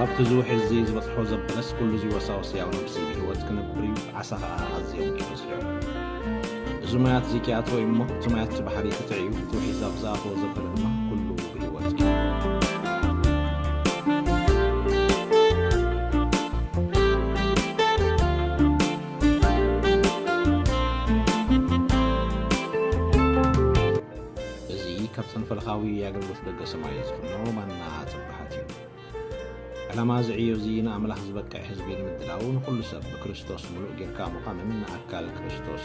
ኣብቲ ዝውሕዝዚ ዝበጽሖ ዘበለስ ኩሉዚ ወሳወስ ያው ነብሲ ህይወት ክንብር እዩ ዓሳ ኸኣ ኣዝዮም ይበዝሑ እዚ ማያት እዚ ኪኣትወ እዩ እሞ እቲ ማያት ባሕሪ ክትዕ እዩ እቲ ውሒዝ ኣብ ዝኣተወ ዘበለ ድማ ኩሉ ብህይወት እዩ እዚ ካብ ሰንፈልኻዊ ኣገልግሎት ደገ ሰማይ ዝፍኖ ማና ጽባሓት እዩ ዕላማ እዚ ዕዮ እዚ ንኣምላኽ ዝበቅዕ ህዝቢ ንምድላው ንኹሉ ሰብ ብክርስቶስ ምሉእ ጌርካ ምዃንን ንኣካል ክርስቶስ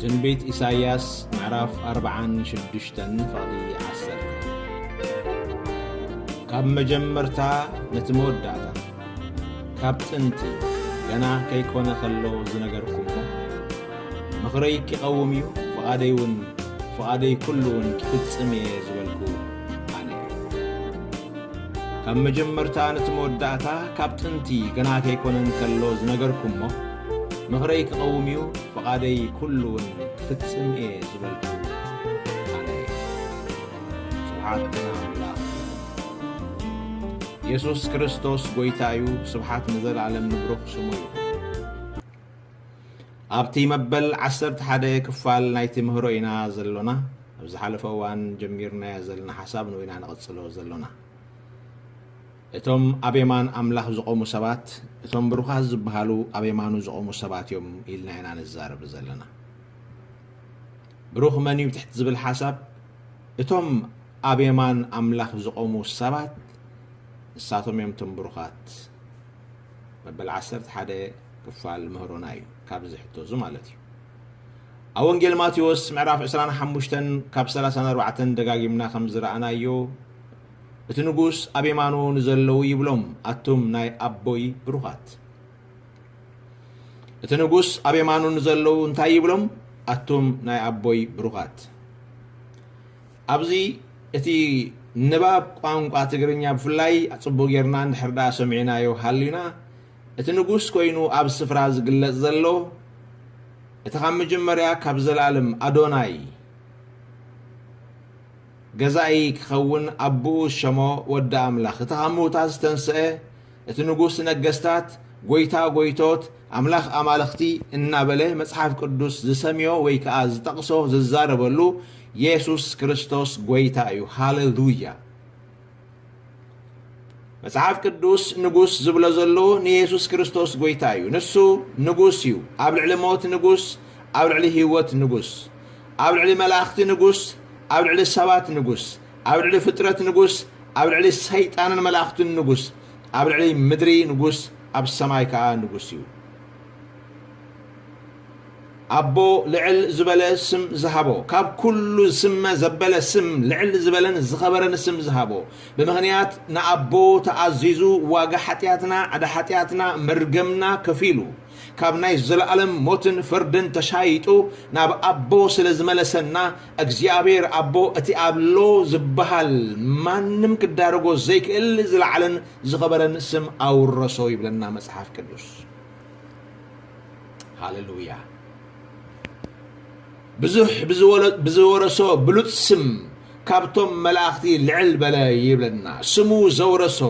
ትንቢት ኢሳይያስ ምዕራፍ ኣርብዓን ሽዱሽተን ፍቕዲ ዓሰርተ ካብ መጀመርታ ነቲ መወዳእታ ካብ ጥንቲ ገና ከይኮነ ከሎ ዝነገርኩሞ ምኽረይ ኪቐውም እዩ ፍቓደይ እውን ፍቓደይ ኩሉ እውን ክፍጽም እየ ዝበልኩ ኣነ ካብ መጀመርታ ነቲ መወዳእታ ካብ ጥንቲ ገና ከይኮነን ከሎ ዝነገርኩሞ ምኽረይ ክቐውም እዩ ፍቓደይ ኩሉ እውን ክፍጽም እየ ዝበልኩ ኣነ ስብሓት የሱስ ክርስቶስ ጎይታ እዩ ስብሓት ንዘለኣለም ንብሩኽ ስሙ ይኹን። ኣብቲ መበል ዓሰርተ ሓደ ክፋል ናይቲ ምህሮ ኢና ዘሎና ኣብ ዝሓለፈ እዋን ጀሚርናዮ ዘለና ሓሳብ ንኡ ኢና ንቕጽሎ ዘሎና እቶም ኣብ የማን ኣምላኽ ዝቖሙ ሰባት እቶም ብሩኻት ዝበሃሉ ኣብ የማኑ ዝቖሙ ሰባት እዮም ኢልና ኢና ንዛረብ ዘለና ብሩኽ መን እዩ ትሕቲ ዝብል ሓሳብ እቶም ኣብ የማን ኣምላኽ ዝቖሙ ሰባት ንሳቶም እዮም እቶም ብሩኻት። መበል ዓሰርተ ሓደ ክፋል ምህሮና እዩ ካብዚ ሕቶ እዚ ማለት እዩ። ኣብ ወንጌል ማቴዎስ ምዕራፍ ዕስራን ሓሙሽተን ካብ ሰላሳን ኣርባዕተን ደጋጊምና ከም ዝረኣናዮ እቲ ንጉስ ኣብ የማኑ ንዘለዉ ይብሎም ኣቱም ናይ ኣቦይ ብሩኻት። እቲ ንጉስ ኣብ የማኑ ንዘለዉ እንታይ ይብሎም ኣቱም ናይ ኣቦይ ብሩኻት። ኣብዚ እቲ ንባብ ቋንቋ ትግርኛ ብፍላይ ጽቡቕ ጌርና እንድሕር ደኣ ሰሚዕናዮ ሃሊና፣ እቲ ንጉስ ኮይኑ ኣብ ስፍራ ዝግለጽ ዘሎ፣ እቲ ካብ መጀመርያ ካብ ዘልኣለም ኣዶናይ ገዛኢ ክኸውን ኣቡኡ ዝሸሞ ወዲ ኣምላኽ፣ እቲ ካብ ምውታት ዝተንስኤ፣ እቲ ንጉስ ነገስታት፣ ጎይታ ጎይቶት፣ ኣምላኽ ኣማልኽቲ እናበለ መጽሓፍ ቅዱስ ዝሰምዮ ወይ ከኣ ዝጠቕሶ ዝዛረበሉ የሱስ ክርስቶስ ጎይታ እዩ። ሃለሉያ! መጽሓፍ ቅዱስ ንጉስ ዝብሎ ዘሎ ንየሱስ ክርስቶስ ጎይታ እዩ። ንሱ ንጉስ እዩ። ኣብ ልዕሊ ሞት ንጉስ፣ ኣብ ልዕሊ ህይወት ንጉስ፣ ኣብ ልዕሊ መላእኽቲ ንጉስ፣ ኣብ ልዕሊ ሰባት ንጉስ፣ ኣብ ልዕሊ ፍጥረት ንጉስ፣ ኣብ ልዕሊ ሰይጣንን መላእኽቱን ንጉስ፣ ኣብ ልዕሊ ምድሪ ንጉስ፣ ኣብ ሰማይ ከኣ ንጉስ እዩ። ኣቦ ልዕል ዝበለ ስም ዝሃቦ፣ ካብ ኩሉ ዝስመ ዘበለ ስም፣ ልዕል ዝበለን ዝኸበረን ስም ዝሃቦ፣ ብምኽንያት ንኣቦ ተኣዚዙ ዋጋ ሓጢኣትና፣ ዕዳ ሓጢኣትና፣ መርገምና ከፊሉ፣ ካብ ናይ ዘለኣለም ሞትን ፍርድን ተሻይጡ ናብ ኣቦ ስለ ዝመለሰና እግዚኣብሔር ኣቦ እቲ ኣሎ ዝበሃል ማንም ክዳረጎ ዘይክእል ዝለዓለን ዝኸበረን ስም ኣውረሶ ይብለና መጽሓፍ ቅዱስ ሃሌሉያ ብዙሕ ብዝወረሶ ብሉፅ ስም ካብቶም መላእኽቲ ልዕል በለ ይብለና ስሙ ዘውረሶ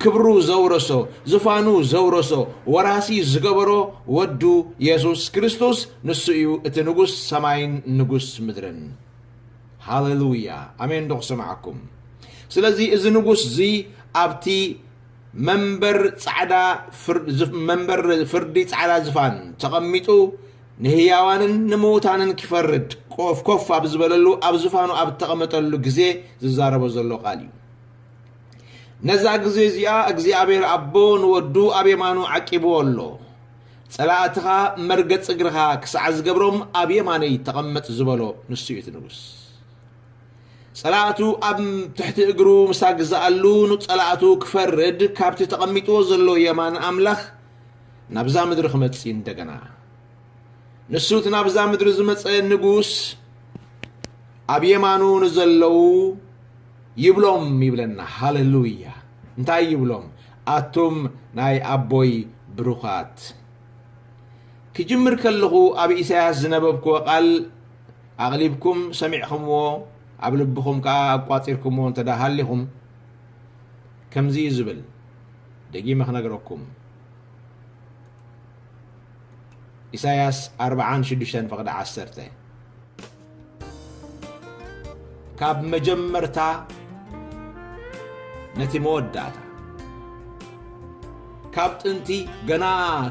ክብሩ ዘውረሶ ዝፋኑ ዘውረሶ ወራሲ ዝገበሮ ወዱ የሱስ ክርስቶስ ንሱ እዩ እቲ ንጉስ ሰማይን ንጉስ ምድርን ሃለሉያ ኣሜን ዶ ክሰማዓኩም ስለዚ እዚ ንጉስ እዚ ኣብቲ መንበር ጻዕዳ መንበር ፍርዲ ጻዕዳ ዝፋን ተቐሚጡ ንህያዋንን ንምዉታንን ኪፈርድ ኮፍ ኮፍ ኣብ ዝበለሉ ኣብ ዝፋኑ ኣብ እተቐመጠሉ ግዜ ዝዛረቦ ዘሎ ቓል እዩ። ነዛ ግዜ እዚኣ እግዚኣብሄር ኣቦ ንወዱ ኣብ የማኑ ዓቂብዎ ኣሎ። ጸላእትኻ መርገጺ እግርኻ ክሳዕ ዝገብሮም ኣብ የማነይ ተቐመጥ ዝበሎ ንሱ እዩ እቲ ንጉስ። ጸላእቱ ኣብ ትሕቲ እግሩ ምስ ኣግዝኣሉ ንጸላእቱ ክፈርድ ካብቲ ተቐሚጥዎ ዘሎ የማን ኣምላኽ ናብዛ ምድሪ ክመጽእ እንደገና ንሱ እቲ ናብዛ ምድሪ ዝመጸ ንጉስ ኣብ የማኑ ንዘለዉ ይብሎም ይብለና ሃለሉያ እንታይ ይብሎም ኣቱም ናይ ኣቦይ ብሩኻት ክጅምር ከለኹ ኣብ ኢሳያስ ዝነበብክዎ ቃል ኣቕሊብኩም ሰሚዕኹምዎ ኣብ ልብኹም ከዓ ኣቋፂርኩምዎ እንተዳ ሃሊኹም ከምዚ እዩ ዝብል ደጊመ ክነግረኩም ኢሳያስ ኣርብዓን ሽዱሽተን ፍቕዲ ዓሰርተ ካብ መጀመርታ ነቲ መወዳእታ ካብ ጥንቲ ገና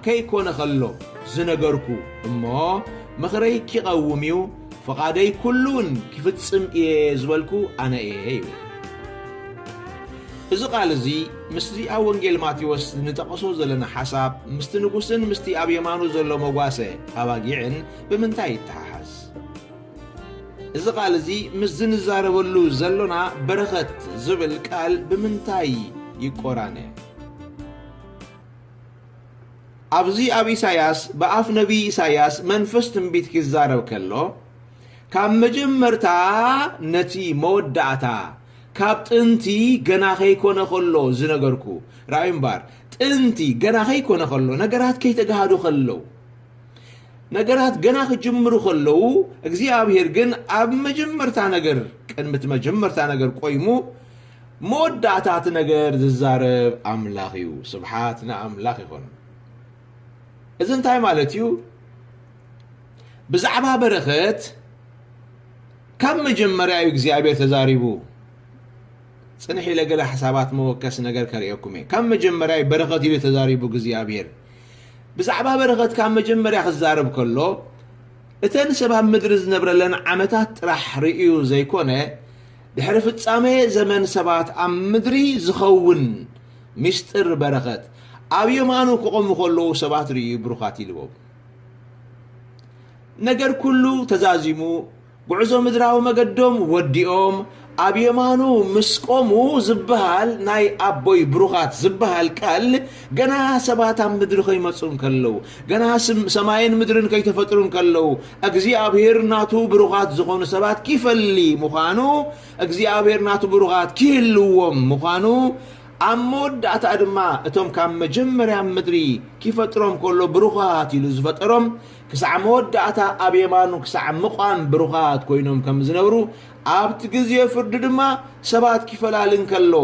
ከይኮነ ከሎ ዝነገርኩ እሞ ምኽረይ ኪቐውም እዩ ፍቓደይ ኩሉውን ኪፍጽም እየ ዝበልኩ ኣነ እየ ይብል እዚ ቓል እዚ ምስዚ ኣብ ወንጌል ማቴዎስ እንጠቐሶ ዘለና ሓሳብ ምስቲ ንጉስን ምስቲ ኣብ የማኑ ዘሎ መጓሰ ኣባጊዕን ብምንታይ ይተሓሓዝ? እዚ ቃል እዚ ምስዚ ንዛረበሉ ዘሎና በረኸት ዝብል ቃል ብምንታይ ይቆራነ? ኣብዚ ኣብ ኢሳያስ ብኣፍ ነቢይ ኢሳያስ መንፈስ ትንቢት ኪዛረብ ከሎ ካብ መጀመርታ ነቲ መወዳእታ ካብ ጥንቲ ገና ከይኮነ ከሎ ዝነገርኩ ራኣዩ እምባር ጥንቲ ገና ከይኮነ ከሎ ነገራት ከይተጋሃዱ ከለው ነገራት ገና ክጅምሩ ከለው እግዚኣብሔር ግን ኣብ መጀመርታ ነገር ቅድሚቲ መጀመርታ ነገር ቆይሙ መወዳእታት ነገር ዝዛረብ ኣምላኽ እዩ ስብሓት ንኣምላኽ ይኹን እዚ እንታይ ማለት እዩ ብዛዕባ በረኸት ካብ መጀመርያ እዩ እግዚኣብሔር ተዛሪቡ ፅንሕ ኢለ ገለ ሓሳባት መወከሲ ነገር ከርእየኩም እየ ካብ መጀመርያ እዩ በረኸት ኢሉ ተዛሪቡ እግዚኣብሔር ብዛዕባ በረኸት ካብ መጀመርያ ክዛረብ ከሎ እተን ሰብ ኣብ ምድሪ ዝነብረለን ዓመታት ጥራሕ ርእዩ ዘይኮነ ድሕሪ ፍጻሜ ዘመን ሰባት ኣብ ምድሪ ዝኸውን ሚስጥር በረኸት ኣብ የማኑ ክቖሙ ከለዉ ሰባት ርእዩ ብሩኻት ኢልዎም ነገር ኩሉ ተዛዚሙ ጉዕዞ ምድራዊ መገዶም ወዲኦም ኣብ የማኑ ምስ ቆሙ ዝበሃል ናይ ኣቦይ ብሩኻት ዝበሃል ቃል ገና ሰባት ኣብ ምድሪ ከይመፁ እንከለዉ ገና ሰማይን ምድርን ከይተፈጥሩ እንከለዉ እግዚኣብሄር ናቱ ብሩኻት ዝኾኑ ሰባት ኪፈሊ ምዃኑ እግዚኣብሄር ናቱ ብሩኻት ኪህልዎም ምዃኑ ኣብ መወዳእታ ድማ እቶም ካብ መጀመርያ ምድሪ ኪፈጥሮም ከሎ ብሩኻት ኢሉ ዝፈጠሮም ክሳዕ መወዳእታ ኣብ የማኑ ክሳዕ ምቛም ብሩኻት ኮይኖም ከም ዝነብሩ ኣብቲ ግዜ ፍርዲ ድማ ሰባት ኪፈላሊ እንከሎ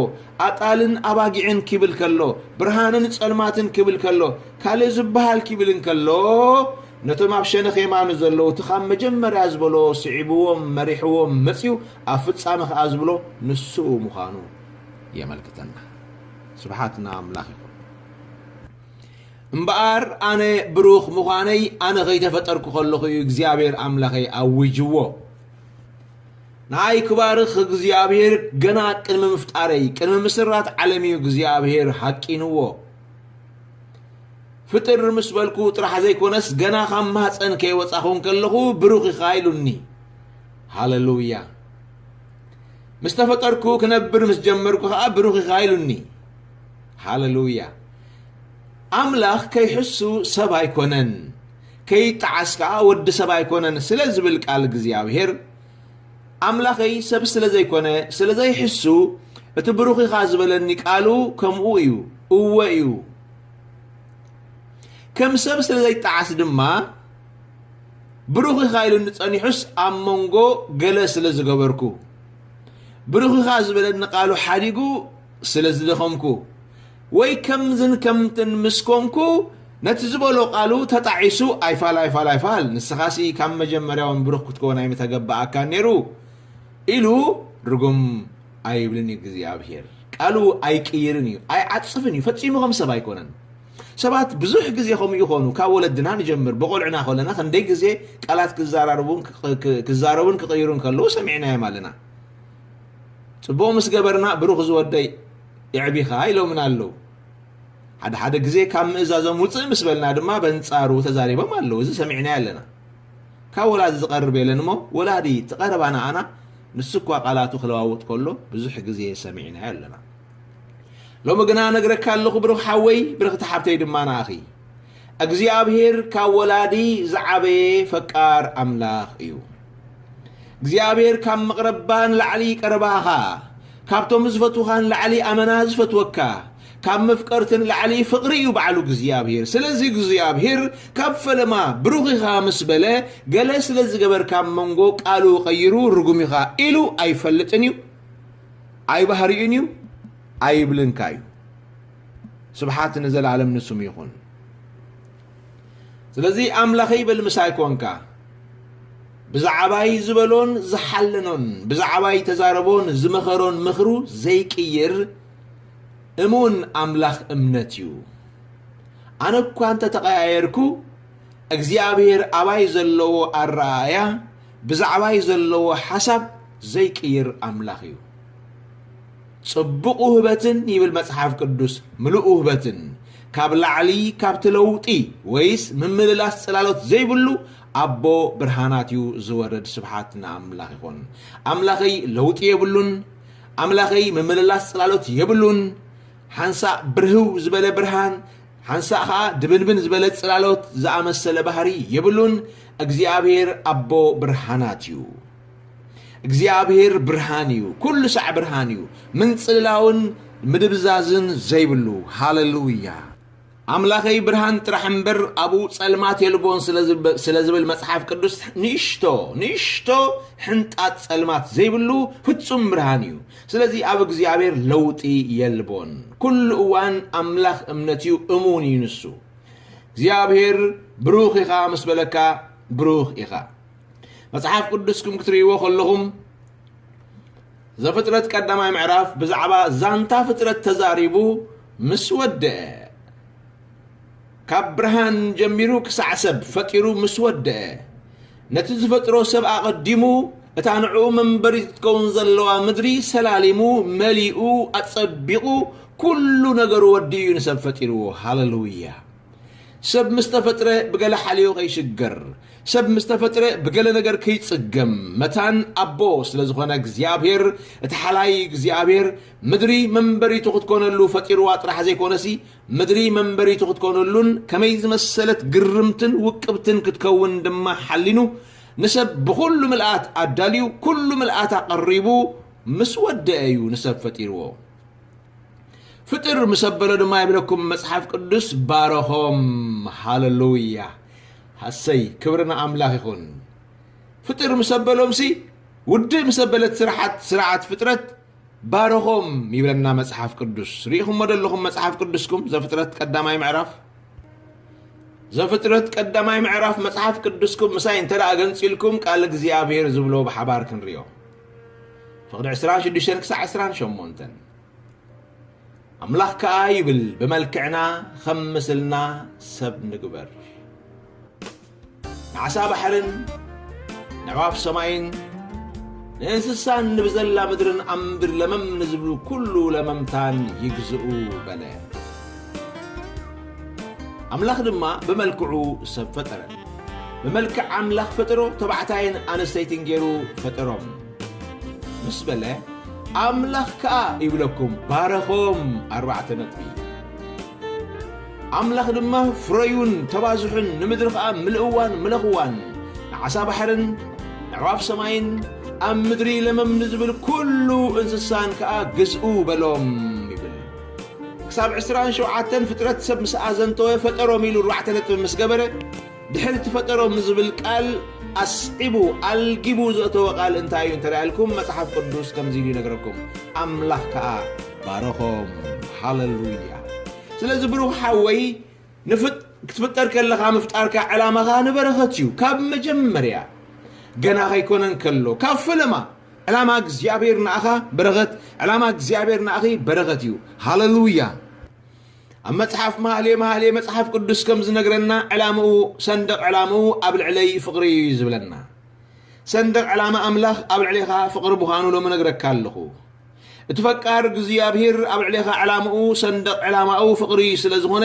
ኣጣልን ኣባጊዕን ኪብል ከሎ ብርሃንን ጸልማትን ኪብል ከሎ ካልእ ዝበሃል ኪብል እንከሎ ነቶም ኣብ ሸነኽ የማኑ ዘለዉ እቲ ካብ መጀመርያ ዝበሎ ስዒብዎም መሪሕዎም መጺኡ ኣብ ፍጻመ ከኣ ዝብሎ ንሱ ምዃኑ የመልክተና ስብሓት ንኣምላኽ ይኹን እምበኣር ኣነ ብሩኽ ምዃነይ ኣነ ከይተፈጠርኩ ከለኹ እዩ እግዚኣብሔር ኣምላኸይ ኣዊጅዎ ንኣይ ክባርኽ እግዚኣብሔር ገና ቅድሚ ምፍጣረይ ቅድሚ ምስራት ዓለም እዩ እግዚኣብሔር ሃቂንዎ ፍጥር ምስ በልኩ ጥራሕ ዘይኮነስ ገና ካብ ማህፀን ከይወፃኹን ከለኹ ብሩኽ ኢኻ ኢሉኒ ሃለሉያ ምስ ተፈጠርኩ ክነብር ምስ ጀመርኩ ከዓ ብሩኽ ኢኻ ኢሉኒ ሃለሉያ ኣምላኽ ከይሕሱ ሰብ ኣይኮነን ከይጠዓስ ከዓ ወዲ ሰብ ኣይኮነን ስለ ዝብል ቃል እግዚኣብሄር ኣምላኸይ ሰብ ስለ ዘይኮነ ስለ ዘይሕሱ እቲ ብሩኽ ኢኻ ዝበለኒ ቃሉ ከምኡ እዩ እወ እዩ ከም ሰብ ስለ ዘይጠዓስ ድማ ብሩኽ ኢኻ ኢሉኒ ጸኒሑስ ኣብ መንጎ ገለ ስለ ዝገበርኩ፣ ብሩኽ ኢኻ ዝበለኒ ቃሉ ሓዲጉ ስለ ዝደኸምኩ፣ ወይ ከምዝን ከምትን ምስ ኮንኩ ነቲ ዝበሎ ቃሉ ተጣዒሱ ኣይፋል ኣይፋል ኣይፋል ንስኻሲ ካብ መጀመርያውን ብሩኽ ክትከውን ኣይምተገበኣካን ነይሩ ኢሉ ርጉም ኣይብልን እዩ እግዚኣብሄር ቃሉ ኣይቅይርን እዩ ኣይዓጽፍን እዩ ፈጺሙ ከም ሰብ ኣይኮነን ሰባት ብዙሕ ግዜ ከምኡ ይኾኑ ካብ ወለድና ንጀምር ብቆልዕና ከለና ክንደይ ግዜ ቃላት ክዛራርቡን ክዛረቡን ክቅይሩን ከለዉ ሰሚዕናዮም ኣለና ጽቡቅ ምስ ገበርና ብሩኽ ዝወደይ የዕቢኻ ኢሎምና ኣለዉ ሓደ ሓደ ግዜ ካብ ምእዛዞም ውጽእ ምስ በልና ድማ በንጻሩ ተዛሪቦም ኣለዉ እዚ ሰሚዕናዮ ኣለና ካብ ወላዲ ዝቀርብ የለን እሞ ወላዲ ትቀረባና ኣና ንሱ እኳ ቃላቱ ክለዋውጥ ከሎ ብዙሕ ግዜ ሰሚዕናዮ ኣለና ሎሚ ግና ነግረካ ኣለኹ ብርኽ ሓወይ ብርኽቲ ሓብተይ ድማ ንኣኺ እግዚኣብሄር ካብ ወላዲ ዝዓበየ ፈቃር ኣምላኽ እዩ እግዚኣብሄር ካብ መቕረባ ንላዕሊ ቀረባኻ ካብቶም ዝፈትውኻ ንላዕሊ ኣመና ዝፈትወካ ካብ መፍቀርቲ ንላዕሊ ፍቕሪ እዩ ባዕሉ እግዚኣብሄር ስለዚ እግዚኣብሄር ካብ ፈለማ ብሩኽ ኢኻ ምስ በለ ገለ ስለ ዝገበርካ መንጎ ቃሉ ቀይሩ ርጉም ኢኻ ኢሉ ኣይፈልጥን እዩ ኣይባህሪኡን እዩ ኣይብልን ከ እዩ ስብሓት ንዘለኣለም ንስሙ ይኹን ስለዚ ኣምላኸይ በል ምሳይ ኮንካ ብዛዕባይ ዝበሎን ዝሓለኖን ብዛዕባይ ተዛረቦን ዝመኸሮን ምኽሩ ዘይቅይር እሙን ኣምላኽ እምነት እዩ ኣነ እኳ እንተ ተቐያየርኩ እግዚኣብሔር ኣባይ ዘለዎ ኣረኣእያ ብዛዕባይ ዘለዎ ሓሳብ ዘይቅይር ኣምላኽ እዩ። ጽቡቕ ውህበትን ይብል መጽሓፍ ቅዱስ ምሉእ ውህበትን ካብ ላዕሊ ካብቲ ለውጢ ወይስ ምምልላስ ጽላሎት ዘይብሉ ኣቦ ብርሃናት እዩ ዝወርድ። ስብሓት ንኣምላኽ ይኹን። ኣምላኸይ ለውጢ የብሉን። ኣምላኸይ ምምልላስ ጽላሎት የብሉን። ሓንሳእ ብርህው ዝበለ ብርሃን ሓንሳእ ኸኣ ድብንብን ዝበለ ጽላሎት ዝኣመሰለ ባህሪ የብሉን፣ እግዚኣብሄር ኣቦ ብርሃናት እዩ። እግዚኣብሄር ብርሃን እዩ፣ ኩሉ ሳዕ ብርሃን እዩ፣ ምንጽልላውን ምድብዛዝን ዘይብሉ። ሃለሉያ! ኣምላኸይ ብርሃን ጥራሕ እምበር ኣብኡ ጸልማት የልቦን ስለ ዝብል መጽሓፍ ቅዱስ ንእሽቶ ንእሽቶ ሕንጣት ጸልማት ዘይብሉ ፍጹም ብርሃን እዩ። ስለዚ ኣብ እግዚኣብሔር ለውጢ የልቦን ኩሉ እዋን ኣምላኽ እምነት እዩ እሙን እዩ ንሱ እግዚኣብሔር ብሩኽ ኢኻ ምስ በለካ ብሩኽ ኢኻ መጽሓፍ ቅዱስኩም ክትርእይዎ ከለኹም ዘፍጥረት ቀዳማይ ምዕራፍ ብዛዕባ ዛንታ ፍጥረት ተዛሪቡ ምስ ወደአ ካብ ብርሃን ጀሚሩ ክሳዕ ሰብ ፈጢሩ ምስ ወደኣ፣ ነቲ ዝፈጥሮ ሰብ ኣቐዲሙ እታ ንዕኡ መንበሪት ክትከውን ዘለዋ ምድሪ ሰላሊሙ መሊኡ ኣጸቢቑ ኩሉ ነገሩ ወዲኡ እዩ ንሰብ ፈጢርዎ። ሃለሉያ! ሰብ ምስ ተፈጥረ ብገለ ሓልዮ ከይሽገር፣ ሰብ ምስ ተፈጥረ ብገለ ነገር ከይጽገም፣ መታን ኣቦ ስለ ዝኾነ እግዚኣብሄር፣ እቲ ሓላይ እግዚኣብሄር፣ ምድሪ መንበሪቱ ክትኮነሉ ፈጢርዋ ጥራሕ ዘይኮነሲ፣ ምድሪ መንበሪቱ ክትኮነሉን ከመይ ዝመሰለት ግርምትን ውቅብትን ክትከውን ድማ ሓሊኑ ንሰብ ብኹሉ ምልኣት ኣዳልዩ ኩሉ ምልኣት ኣቐሪቡ ምስ ወደኣ እዩ ንሰብ ፈጢርዎ። ፍጥር ምስ ኣበሎ ድማ ይብለኩም መጽሓፍ ቅዱስ ባረኾም። ሃለሉያ ሃሰይ ክብሪ ንኣምላኽ ይኹን። ፍጥር ምስ ኣበሎምሲ ውድእ ምስ ኣበለት ስርዓት ስርዓት ፍጥረት ባርኾም ይብለና መጽሓፍ ቅዱስ። ርኢኹሞ ዶ ኣለኹም መጽሓፍ ቅዱስኩም ዘፍጥረት ቀዳማይ ምዕራፍ ዘፍጥረት ቀዳማይ ምዕራፍ መጽሓፍ ቅዱስኩም ምሳይ እንተ ደኣ ገንጺልኩም ቃል እግዚኣብሔር ዝብሎ ብሓባር ክንሪኦ ፍቕዲ 26 ክሳዕ 28 ኣምላኽ ከኣ ይብል ብመልክዕና ኸም ምስልና ሰብ ንግበር ንዓሳ ባሕርን ነዕዋፍ ሰማይን ንእንስሳን ንብዘላ ምድርን ኣብ ምድር ለመም ንዝብሉ ኩሉ ለመምታን ይግዝኡ በለ። ኣምላኽ ድማ ብመልክዑ ሰብ ፈጠረ። ብመልክዕ ኣምላኽ ፈጠሮ ተባዕታይን ኣንስተይትን ገይሩ ፈጠሮም ምስ በለ ኣምላኽ ከኣ ይብለኩም ባረኾም። ኣርባዕተ ነጥቢ ኣምላኽ ድማ ፍረዩን ተባዝሑን ንምድሪ ኸኣ ምልእዋን ምለኽዋን ንዓሳ ባሕርን ንዕዋፍ ሰማይን ኣብ ምድሪ ለመም ንዝብል ኩሉ እንስሳን ከኣ ግዝኡ በሎም ይብል ክሳብ ዕስራን ሸውዓተን ፍጥረት ሰብ ምስ ኣዘንተወ ፈጠሮም ኢሉ ኣርባዕተ ነጥቢ ምስ ገበረ ድሕሪ ትፈጠሮም ንዝብል ቃል ኣስዒቡ፣ ኣልጊቡ፣ ዘእተወ ቃል እንታይ እዩ እንተ ኢልኩም፣ መጽሓፍ ቅዱስ ከምዚ ኢሉ ይነግረኩም፣ ኣምላኽ ከኣ ባረኾም። ሃለሉያ! ስለዚ ብሩኽ ሓወይ ንፍጥ ክትፍጠር ከለኻ ምፍጣርካ ዕላማኻ ንበረኸት እዩ ካብ መጀመርያ ገና ከይኮነ እንከሎ ካብ ፈለማ ዕላማ እግዚኣብሔር ንኣኻ በረኸት ዕላማ እግዚኣብሔር ንኣኺ በረኸት እዩ ሃለሉያ ኣብ መጽሓፍ መሃልየ መሃልየ መጽሓፍ ቅዱስ ከም ዝነግረና ዕላምኡ ሰንደቕ ዕላምኡ ኣብ ልዕለይ ፍቕሪ እዩ ዝብለና ሰንደቕ ዕላማ ኣምላኽ ኣብ ልዕሌኻ ፍቕሪ ምዃኑ ሎሚ ነግረካ ኣለኹ እቲ ፈቃር እግዚኣብሔር ኣብ ልዕሌኻ ዕላምኡ ሰንደቕ ዕላማኡ ፍቕሪ ስለ ዝኾነ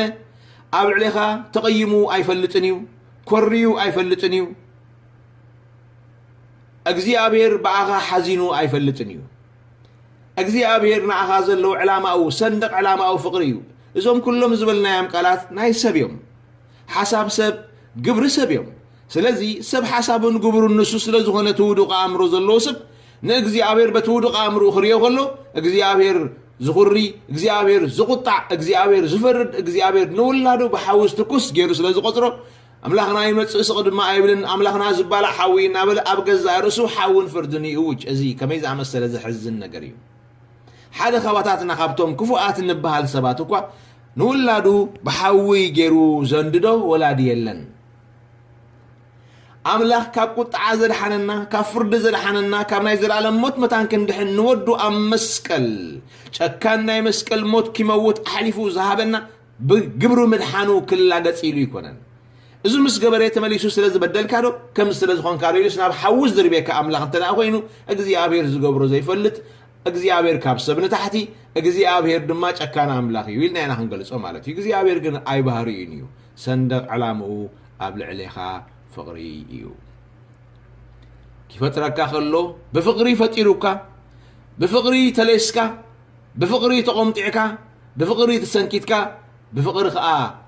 ኣብ ልዕሌኻ ተቐይሙ ኣይፈልጥን እዩ ኮርዩ ኣይፈልጥን እዩ እግዚኣብሔር ብኣኻ ሓዚኑ ኣይፈልጥን እዩ እግዚኣብሔር ንኣኻ ዘለዎ ዕላማኡ ሰንደቕ ዕላማኡ ፍቕሪ እዩ። እዞም ኩሎም ዝበልናዮም ቃላት ናይ ሰብ እዮም። ሓሳብ ሰብ፣ ግብሪ ሰብ እዮም። ስለዚ ሰብ ሓሳቡን ግብሩን ንሱ ስለ ዝኾነ እቲ ውዱቕ ኣእምሮ ዘለዎ ሰብ ንእግዚኣብሔር በቲ ውዱቕ ኣእምርኡ ክርእዮ ከሎ እግዚኣብሔር ዝኹሪ፣ እግዚኣብሔር ዝቑጣዕ፣ እግዚኣብሔር ዝፈርድ፣ እግዚኣብሔር ንውላዱ ብሓዊ ዝትኩስ ገይሩ ስለ ዝቖጽሮ ኣምላኽና ይመጽእ ስቕ ድማ ኣይብልን፣ ኣምላኽና ዝባላዕ ሓዊ እዩ እናበለ ኣብ ገዛእ ርእሱ ሓውን ፍርድን ይእውጅ። እዚ ከመይ ዝኣመሰለ ዘሕዝን ነገር እዩ! ሓደ ኻባታትና ኻብቶም ክፉኣት እንብሃል ሰባት እኳ ንውላዱ ብሓዊ ገይሩ ዘንድዶ ወላዲ የለን። ኣምላኽ ካብ ቁጥዓ ዘድሓነና፣ ካብ ፍርዲ ዘድሓነና፣ ካብ ናይ ዘለኣለም ሞት መታን ክንድሕን ንወዱ ኣብ መስቀል ጨካን ናይ መስቀል ሞት ኪመውት ኣሕሊፉ ዝሃበና ብግብሩ ምድሓኑ ክላገጽ ኢሉ ኣይኮነን። እዚ ምስ ገበሬ ተመሊሱ ስለ ዝበደልካ ዶ ከምዚ ስለ ዝኾንካ ዶ ኢሉስ ናብ ሓዊ ዝድርብየካ ኣምላኽ እንተ ደኣ ኮይኑ እግዚኣብሄር ዝገብሮ ዘይፈልጥ እግዚኣብሄር ካብ ሰብ ንታሕቲ እግዚኣብሄር ድማ ጨካን ኣምላኽ እዩ ኢልና ኢና ክንገልጾ ማለት እዩ። እግዚኣብሄር ግን ኣይባህርዩን እዩ። ሰንደቕ ዕላምኡ ኣብ ልዕሌኻ ፍቕሪ እዩ። ኪፈጥረካ ከሎ ብፍቕሪ ፈጢሩካ ብፍቕሪ ተሌስካ ብፍቕሪ ተቖምጢዕካ ብፍቕሪ ተሰንኪትካ ብፍቕሪ ከኣ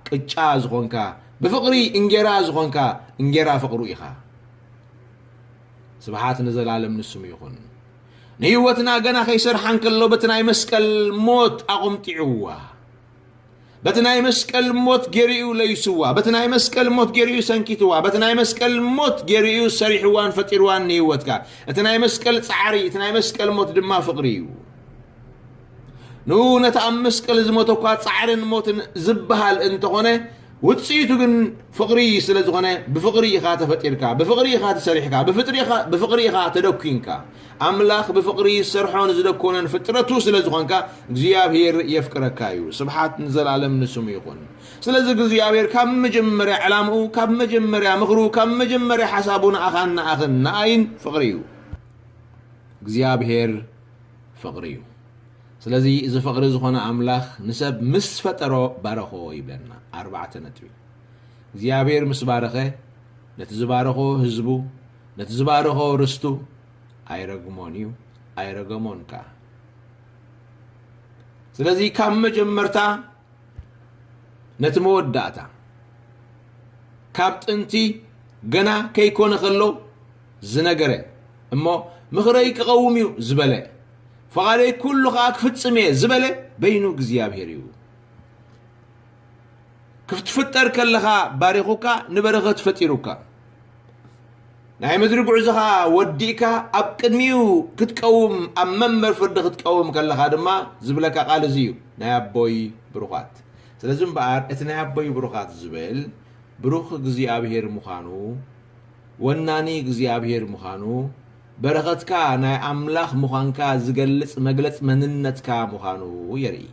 ቅጫ ዝኾንካ ብፍቕሪ እንጌራ ዝኾንካ እንጌራ ፍቕሩ ኢኻ። ስብሓት ንዘላለም ንስሙ ይኹን። ንህይወትና ገና ከይሰርሓ እንከሎ በቲ ናይ መስቀል ሞት ኣቖምጢዕዋ በቲ ናይ መስቀል ሞት ጌሩ እዩ ለይስዋ በቲ ናይ መስቀል ሞት ጌሩ እዩ ሰንኪትዋ በቲ ናይ መስቀል ሞት ጌሩ እዩ ሰሪሕዋን ፈጢርዋን ንህይወትካ እቲ ናይ መስቀል ጻዕሪ እቲ ናይ መስቀል ሞት ድማ ፍቕሪ እዩ ንኡ ነቲ ኣብ መስቀል ዝሞተ እኳ ጻዕርን ሞትን ዝበሃል እንተኾነ ውፅኢቱ ግን ፍቕሪ ስለ ዝኾነ ብፍቕሪ ኢኻ ተፈጢርካ ብፍቕሪ ኢኻ ተሰሪሕካ ብፍቕሪ ኢኻ ተደኲንካ ኣምላኽ ብፍቕሪ ዝሰርሖ ንዝደኮነን ፍጥረቱ ስለ ዝኾንካ እግዚኣብሄር የፍቅረካ እዩ ስብሓት ንዘለኣለም ንስሙ ይኹን ስለዚ እግዚኣብሄር ካብ መጀመርያ ዕላምኡ ካብ መጀመርያ ምኽሩ ካብ መጀመርያ ሓሳቡ ንኣኻን ንኣኽን ንኣይን ፍቕሪ እዩ እግዚኣብሄር ፍቕሪ እዩ ስለዚ እዚ ፍቕሪ ዝኾነ ኣምላኽ ንሰብ ምስ ፈጠሮ ባረኾ ይብለና ኣርባዕተ ነጥቢ እግዚኣብሔር ምስ ባረኸ ነቲ ዝባረኾ ህዝቡ ነቲ ዝባረኾ ርስቱ ኣይረግሞን እዩ፣ ኣይረገሞን ከኣ። ስለዚ ካብ መጀመርታ ነቲ መወዳእታ ካብ ጥንቲ ገና ከይኮነ ከሎ ዝነገረ እሞ ምኽረይ ክቐውም እዩ ዝበለ ፈቓደይ ኩሉ ከዓ ክፍፅም እየ ዝበለ በይኑ እግዚኣብሔር እዩ። ክትፍጠር ከለኻ ባሪኹካ ንበረኸት ፈጢሩካ ናይ ምድሪ ጉዕዞኻ ወዲእካ ኣብ ቅድሚኡ ክትቀውም ኣብ መንበር ፍርዲ ክትቀውም ከለኻ ድማ ዝብለካ ቃል እዚ እዩ ናይ ኣቦይ ብሩኻት ስለዚ እምበኣር እቲ ናይ ኣቦይ ብሩኻት ዝብል ብሩኽ እግዚኣብሄር ምዃኑ ወናኒ እግዚኣብሄር ምዃኑ በረኸትካ ናይ ኣምላኽ ምዃንካ ዝገልጽ መግለጽ መንነትካ ምዃኑ የርኢ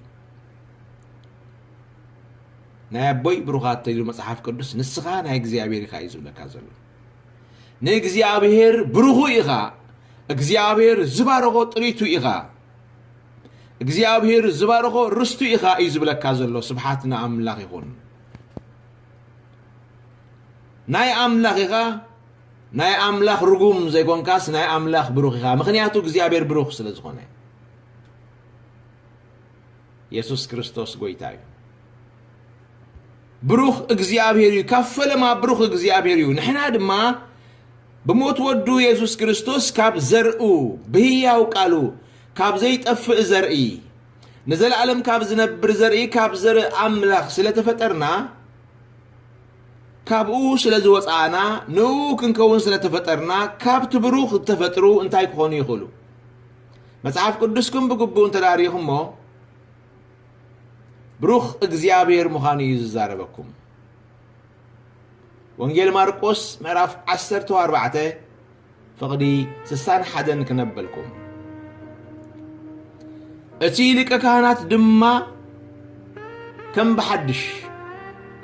ናይ ኣቦይ ብሩኻት ተይሉ መጽሓፍ ቅዱስ ንስኻ ናይ እግዚኣብሔር ኢኻ እዩ ዝብለካ ዘሎ ንእግዚኣብሔር ብሩኹ ኢኻ እግዚኣብሔር ዝባረኾ ጥሪቱ ኢኻ እግዚኣብሔር ዝባረኾ ርስቱ ኢኻ እዩ ዝብለካ ዘሎ ስብሓት ንኣምላኽ ይኹን ናይ ኣምላኽ ኢኻ ናይ ኣምላኽ ርጉም ዘይኮንካስ ናይ ኣምላኽ ብሩኽ ኢኻ ምክንያቱ እግዚኣብሔር ብሩኽ ስለ ዝኾነ የሱስ ክርስቶስ ጎይታ እዩ። ብሩኽ እግዚኣብሔር እዩ። ካብ ፈለማ ብሩኽ እግዚኣብሔር እዩ። ንሕና ድማ ብሞት ወዱ የሱስ ክርስቶስ ካብ ዘርኡ ብህያው ቃሉ ካብ ዘይጠፍእ ዘርኢ ንዘለኣለም ካብ ዝነብር ዘርኢ ካብ ዘርኢ ኣምላኽ ስለተፈጠርና ካብኡ ስለ ዝወፃእና ንኡ ክንከውን ስለተፈጠርና ካብቲ ብሩኽ ዝተፈጥሩ እንታይ ክኾኑ ይኽእሉ? መጽሓፍ ቅዱስኩም ብግቡእ እንተ ርኢኹሞ ብሩኽ እግዚኣብሔር ምዃኑ እዩ ዝዛረበኩም ወንጌል ማርቆስ ምዕራፍ 14 ፍቕዲ 61 ክነበልኩም እቲ ሊቀ ካህናት ድማ ከም ብሓድሽ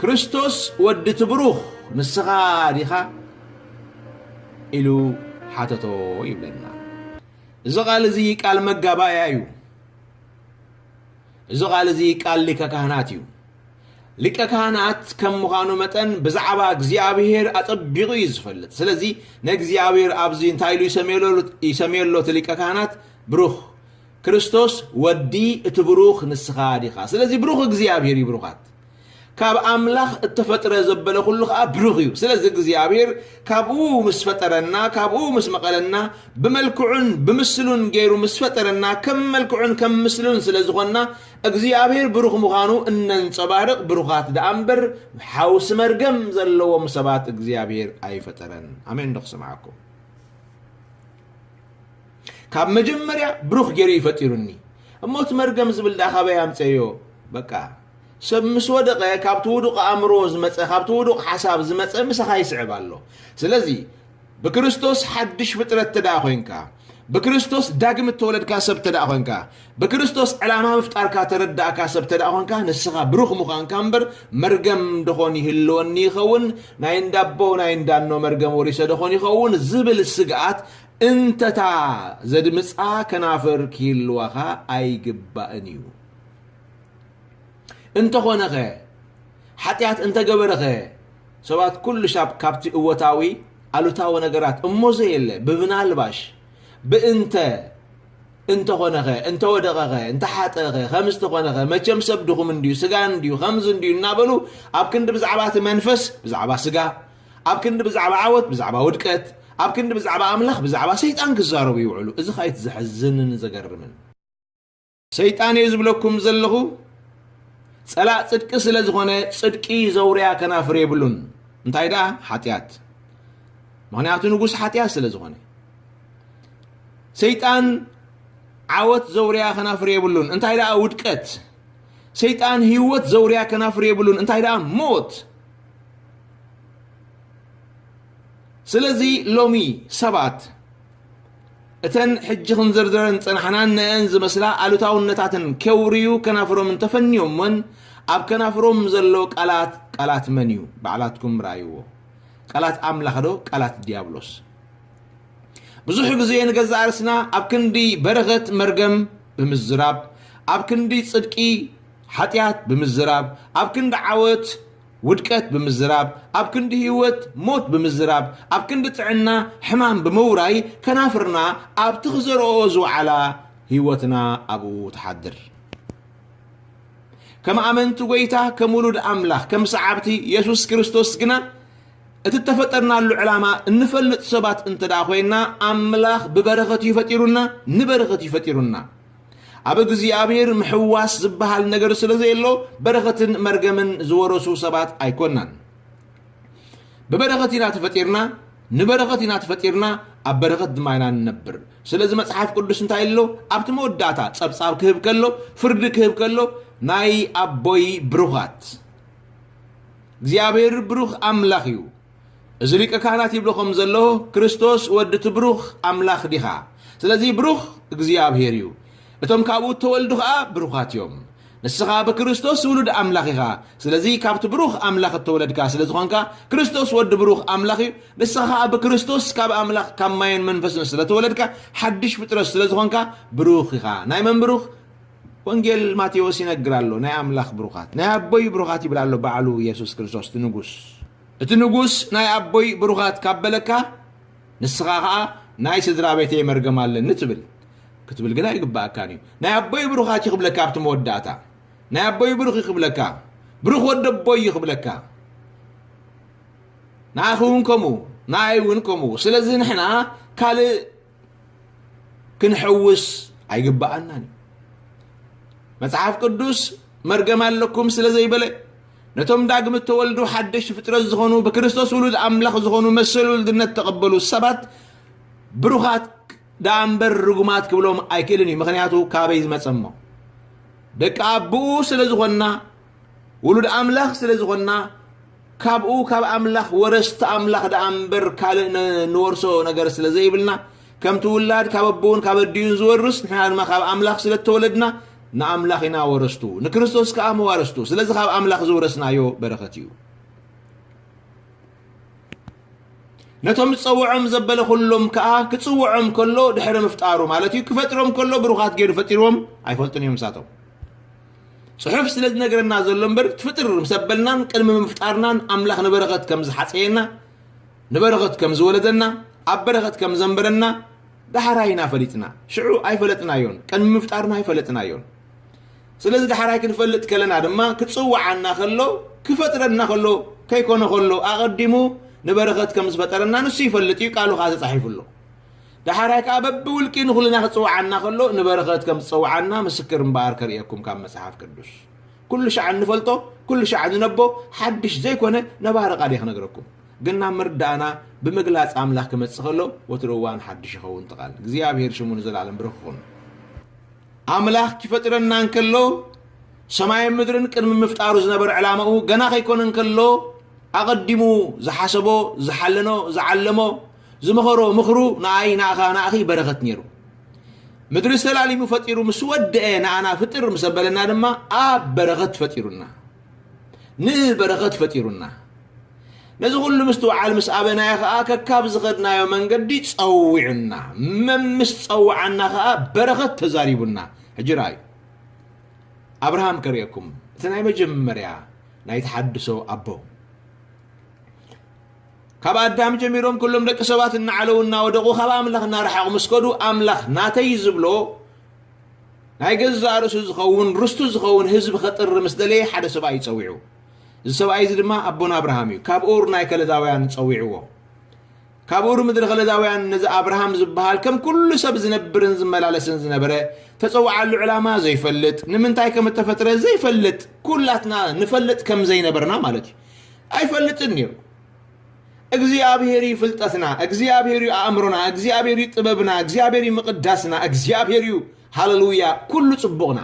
ክርስቶስ ወዲ እቲ ብሩኽ ንስኻ ዲኻ ኢሉ ሓተቶ ይብለና እዚ ቃል እዚ ቃል መጋባእያ እዩ። እዚ ቃል እዚ ቃል ሊቀ ካህናት እዩ። ሊቀ ካህናት ከም ምዃኑ መጠን ብዛዕባ እግዚኣብሔር ኣጸቢቑ እዩ ዝፈልጥ። ስለዚ ንእግዚኣብሔር ኣብዚ እንታይ ኢሉ ይሰምዮ ኣሎ እቲ ሊቀ ካህናት? ብሩኽ ክርስቶስ ወዲ እቲ ብሩኽ ንስኻ ዲኻ? ስለዚ ብሩኽ እግዚኣብሔር እዩ ብሩኻት ካብ ኣምላኽ እተፈጥረ ዘበለ ኩሉ ከኣ ብሩኽ እዩ። ስለዚ እግዚኣብሔር ካብኡ ምስ ፈጠረና ካብኡ ምስ መቐለና ብመልክዑን ብምስሉን ገይሩ ምስ ፈጠረና ከም መልክዑን ከም ምስሉን ስለ ዝኾንና እግዚኣብሔር ብሩኽ ምዃኑ እነንጸባርቕ ብሩኻት ደኣ እምበር ሓውሲ መርገም ዘለዎም ሰባት እግዚኣብሔር ኣይፈጠረን። ኣሜን ዶ ክሰምዓኩም? ካብ መጀመርያ ብሩኽ ጌሩ እዩ ፈጢሩኒ እሞ እቲ መርገም ዝብል ደኣ ካበይ ኣምጸዮ በቃ ሰብ ምስ ወደቐ ካብቲ ውዱቕ ኣእምሮ ዝመጸ ካብቲ ውዱቕ ሓሳብ ዝመጸ ምሳኻ ይስዕብ ኣሎ ስለዚ ብክርስቶስ ሓድሽ ፍጥረት ተደኣ ኮንካ ብክርስቶስ ዳግም እተወለድካ ሰብ ተደኣ ኮንካ ብክርስቶስ ዕላማ ምፍጣርካ ተረዳእካ ሰብ ተደኣ ኮንካ ንስኻ ብሩኽ ምዃንካ እምበር መርገም ደኾን ይህልወኒ ይኸውን ናይ እንዳቦ ናይ እንዳኖ መርገም ወሪሰ ደኾን ይኸውን ዝብል ስግኣት እንተ'ታ ዘድምጻ ከናፍር ኪህልዋኻ ኣይግባእን እዩ። እንተኾነኸ ሓጢኣት እንተ ገበረኸ ሰባት ኩሉሻብ ካብቲ እወታዊ ኣሉታዊ ነገራት እሞ ዘየለ ብብናልባሽ ብእንተ እንተኾነኸ እንተወደቐኸ እንተሓጠኸ ከምዚ ተኾነኸ መቸም ሰብ ድኹም እንድዩ ስጋ እንድዩ ከምዚ እንድዩ እናበሉ ኣብ ክንዲ ብዛዕባ እቲ መንፈስ ብዛዕባ ስጋ ኣብ ክንዲ ብዛዕባ ዓወት ብዛዕባ ውድቀት ኣብ ክንዲ ብዛዕባ ኣምላኽ ብዛዕባ ሰይጣን ክዛረቡ ይውዕሉ እዚ ከኣ እቲ ዘሕዝንን ዘገርምን ሰይጣን እየ ዝብለኩም ዘለኹ ጸላእ ጽድቂ ስለ ዝኾነ ጽድቂ ዘውርያ ከናፍር የብሉን እንታይ ደኣ ሓጢኣት ምክንያቱ ንጉስ ሓጢኣት ስለ ዝኾነ ሰይጣን ዓወት ዘውርያ ከናፍር የብሉን እንታይ ደኣ ውድቀት ሰይጣን ህይወት ዘውርያ ከናፍር የብሉን እንታይ ደኣ ሞት ስለዚ ሎሚ ሰባት እተን ሕጂ ክንዝርዝረን ጸናሕናን ነአን ዝመስላ ኣሉታውነታትን ኬውርዩ ከናፍሮም እንተፈንዮምወን ኣብ ከናፍሮም ዘሎ ቃላት ቃላት መን እዩ ባዕላትኩም ርኣይዎ ቃላት ኣምላኽ ዶ ቃላት ዲያብሎስ ብዙሕ ግዜ ንገዛእ ርስና ኣብ ክንዲ በረኸት መርገም ብምዝራብ ኣብ ክንዲ ጽድቂ ሓጢኣት ብምዝራብ ኣብ ክንዲ ዓወት ውድቀት ብምዝራብ ኣብ ክንዲ ህይወት ሞት ብምዝራብ ኣብ ክንዲ ጥዕና ሕማም ብምውራይ ከናፍርና ኣብቲ ክዘርኦኦ ዝወዓላ ህይወትና ኣብኡ ትሓድር። ከም ኣመንቲ ጎይታ ከም ውሉድ ኣምላኽ ከም ሰዓብቲ የሱስ ክርስቶስ ግና እቲ እተፈጠርናሉ ዕላማ እንፈልጥ ሰባት እንተ ደኣ ኮይንና ኣምላኽ ብበረኸት እዩ ፈጢሩና ንበረኸት እዩ ፈጢሩና ኣብ እግዚኣብሔር ምሕዋስ ዝበሃል ነገር ስለ ዘየሎ በረኸትን መርገምን ዝወረሱ ሰባት ኣይኮናን። ብበረኸት ኢና ተፈጢርና፣ ንበረኸት ኢና ተፈጢርና፣ ኣብ በረኸት ድማ ኢና ንነብር። ስለዚ መጽሓፍ ቅዱስ እንታይ ኣሎ? ኣብቲ መወዳእታ ጸብጻብ ክህብ ከሎ፣ ፍርዲ ክህብ ከሎ ናይ ኣቦይ ብሩኻት እግዚኣብሔር ብሩኽ ኣምላኽ እዩ። እዚ ሊቀ ካህናት ይብሎ ከም ዘሎ ክርስቶስ ወዲ እቲ ብሩኽ ኣምላኽ ዲኻ? ስለዚ ብሩኽ እግዚኣብሔር እዩ። እቶም ካብኡ እተወልዱ ኸኣ ብሩኻት እዮም። ንስኻ ብክርስቶስ ውሉድ ኣምላኽ ኢኻ። ስለዚ ካብቲ ብሩኽ ኣምላኽ እተወለድካ ስለ ዝኾንካ ክርስቶስ ወዲ ብሩኽ ኣምላኽ እዩ። ንስኻ ኸኣ ብክርስቶስ ካብ ኣምላኽ ካብ ማየን መንፈስን ስለ ተወለድካ ሓድሽ ፍጥረት ስለ ዝኾንካ ብሩኽ ኢኻ። ናይ መን ብሩኽ? ወንጌል ማቴዎስ ይነግር ኣሎ ናይ ኣምላኽ ብሩኻት ናይ ኣቦይ ብሩኻት ይብል ኣሎ ባዕሉ የሱስ ክርስቶስ እቲ ንጉስ እቲ ንጉስ ናይ ኣቦይ ብሩኻት ካብ በለካ ንስኻ ኸኣ ናይ ስድራ ቤተይ መርገም ኣለኒ ትብል ክትብል ግን ኣይግባኣካን እዩ ናይ ኣቦይ ብሩኻት እዩ ክብለካ ኣብቲ መወዳእታ ናይ ኣቦይ ብሩኽ እዩ ክብለካ ብሩኽ ወዲ ኣቦይ እዩ ክብለካ ንኣኺ እውን ከምኡ ንኣይ እውን ከምኡ ስለዚ ንሕና ካልእ ክንሕውስ ኣይግብኣናን እዩ መጽሓፍ ቅዱስ መርገም ኣለኩም ስለ ዘይበለ ነቶም ዳግም እተወልዱ ሓደሽ ፍጥረት ዝኾኑ ብክርስቶስ ውሉድ ኣምላኽ ዝኾኑ መሰል ውልድነት ተቐበሉ ሰባት ብሩኻት ደኣ እምበር ርጉማት ክብሎም ኣይክእልን እዩ ምክንያቱ ካበይ ዝመጸ እሞ ደቂ ኣቦኡ ስለ ዝኾንና ውሉድ ኣምላኽ ስለ ዝኾንና ካብኡ ካብ ኣምላኽ ወረስቲ ኣምላኽ ደኣ እምበር ካልእ ነ- ንወርሶ ነገር ስለ ዘይብልና ከምቲ ውላድ ካብ ኣቦኡን ካብ ኣዲኡን ዝወርስ ንሕና ድማ ካብ ኣምላኽ ስለ እተወለድና ንኣምላኽ ኢና ወረስቱ ንክርስቶስ ከኣ መዋርስቱ ስለዚ ካብ ኣምላኽ ዝወረስናዮ በረኸት እዩ ነቶም ዝጸውዖም ዘበለ ኩሎም ከኣ ክጽውዖም ከሎ ድሕሪ ምፍጣሩ ማለት እዩ ክፈጥሮም ከሎ ብሩኻት ገይሩ ፈጢርዎም ኣይፈልጡን እዮም ንሳቶም ጽሑፍ ስለ ዝነግረና ዘሎ እምበር እቲ ፍጥር ምስ ኣበልናን ቅድሚ ምፍጣርናን ኣምላኽ ንበረኸት ከም ዝሓጸየና ንበረኸት ከም ዝወለደና ኣብ በረኸት ከም ዘንበረና ዳሕራይ ኢና ፈሊጥና ሽዑ ኣይፈለጥናዮን ቅድሚ ምፍጣርና ኣይፈለጥናዮን ስለዚ ዳሕራይ ክንፈልጥ ከለና ድማ ክጽውዓና ከሎ ክፈጥረና ከሎ ከይኮነ ከሎ ኣቐዲሙ ንበረኸት ከም ዝፈጠረና ንሱ ይፈልጥ እዩ ቃሉ ከዓ ተጻሒፉ ኣሎ ደሓራይ ከኣ በብውልቂ ንኹልና ክጽውዓና ከሎ ንበረኸት ከም ዝጸውዓና ምስክር እምበኣር ከርእየኩም ካብ መጽሓፍ ቅዱስ ኩሉ ሻዕ እንፈልጦ ኩሉ ሻዕ ንነቦ ሓድሽ ዘይኮነ ነባሪ ቃል እየ ክነግረኩም ግን ናብ ምርዳእና ብምግላጽ ኣምላኽ ክመጽእ ከሎ ወትሩ እዋን ሓድሽ ይኸውን ትቓል እግዚኣብሄር ሽሙ ንዘለኣለም ብሩኽ ይኹን ኣምላኽ ክፈጥረና እንከሎ ሰማይን ምድርን ቅድሚ ምፍጣሩ ዝነበረ ዕላማኡ ገና ከይኮነ እንከሎ ኣቐዲሙ ዝሓሰቦ ዝሓለኖ ዝዓለሞ ዝመኸሮ ምኽሩ ንኣይ ንኣኻ ንኣኺ በረኸት ነይሩ ምድሪ ዝተላሊሙ ፈጢሩ ምስ ወደአ ንኣና ፍጥር ምስ ኣበለና ድማ ኣብ በረኸት ፈጢሩና ንበረኸት ፈጢሩና ነዚ ኩሉ ምስትውዓል ምስ ኣበናዮ ከዓ ከካብ ዝኸድናዮ መንገዲ ፀዊዑና መምስ ፀውዓና ከዓ በረኸት ተዛሪቡና ሕጂ ረኣዩ ኣብርሃም ከርእየኩም እቲ ናይ መጀመርያ ናይ ተሓድሶ ኣቦ ካብ ኣዳም ጀሚሮም ኩሎም ደቂ ሰባት እናዓለዉ እናወደቑ ካብ ኣምላኽ እናረሓቑ ምስ ከዱ ኣምላኽ ናተይ ዝብሎ ናይ ገዛእ ርእሱ ዝኸውን ርስቱ ዝኸውን ህዝቢ ከጥሪ ምስ ደለየ ሓደ ሰብኣይ እዩ ጸዊዑ እዚ ሰብኣይ እዚ ድማ ኣቦና ኣብርሃም እዩ ካብ ኡር ናይ ከለዳውያን ጸዊዕዎ ካብ ኡር ምድሪ ከለዳውያን ነዚ ኣብርሃም ዝበሃል ከም ኩሉ ሰብ ዝነብርን ዝመላለስን ዝነበረ ተጸዋዓሉ ዕላማ ዘይፈልጥ ንምንታይ ከም እተፈጥረ ዘይፈልጥ ኩላትና ንፈልጥ ከም ዘይነበርና ማለት እዩ ኣይፈልጥን ነይሩ። እግዚኣብሔር እዩ ፍልጠትና፣ እግዚኣብሔር እዩ ኣእምሮና፣ እግዚኣብሔር እዩ ጥበብና፣ እግዚኣብሔር እዩ ምቕዳስና፣ እግዚኣብሔር እዩ ሃለሉያ ኩሉ ጽቡቕና።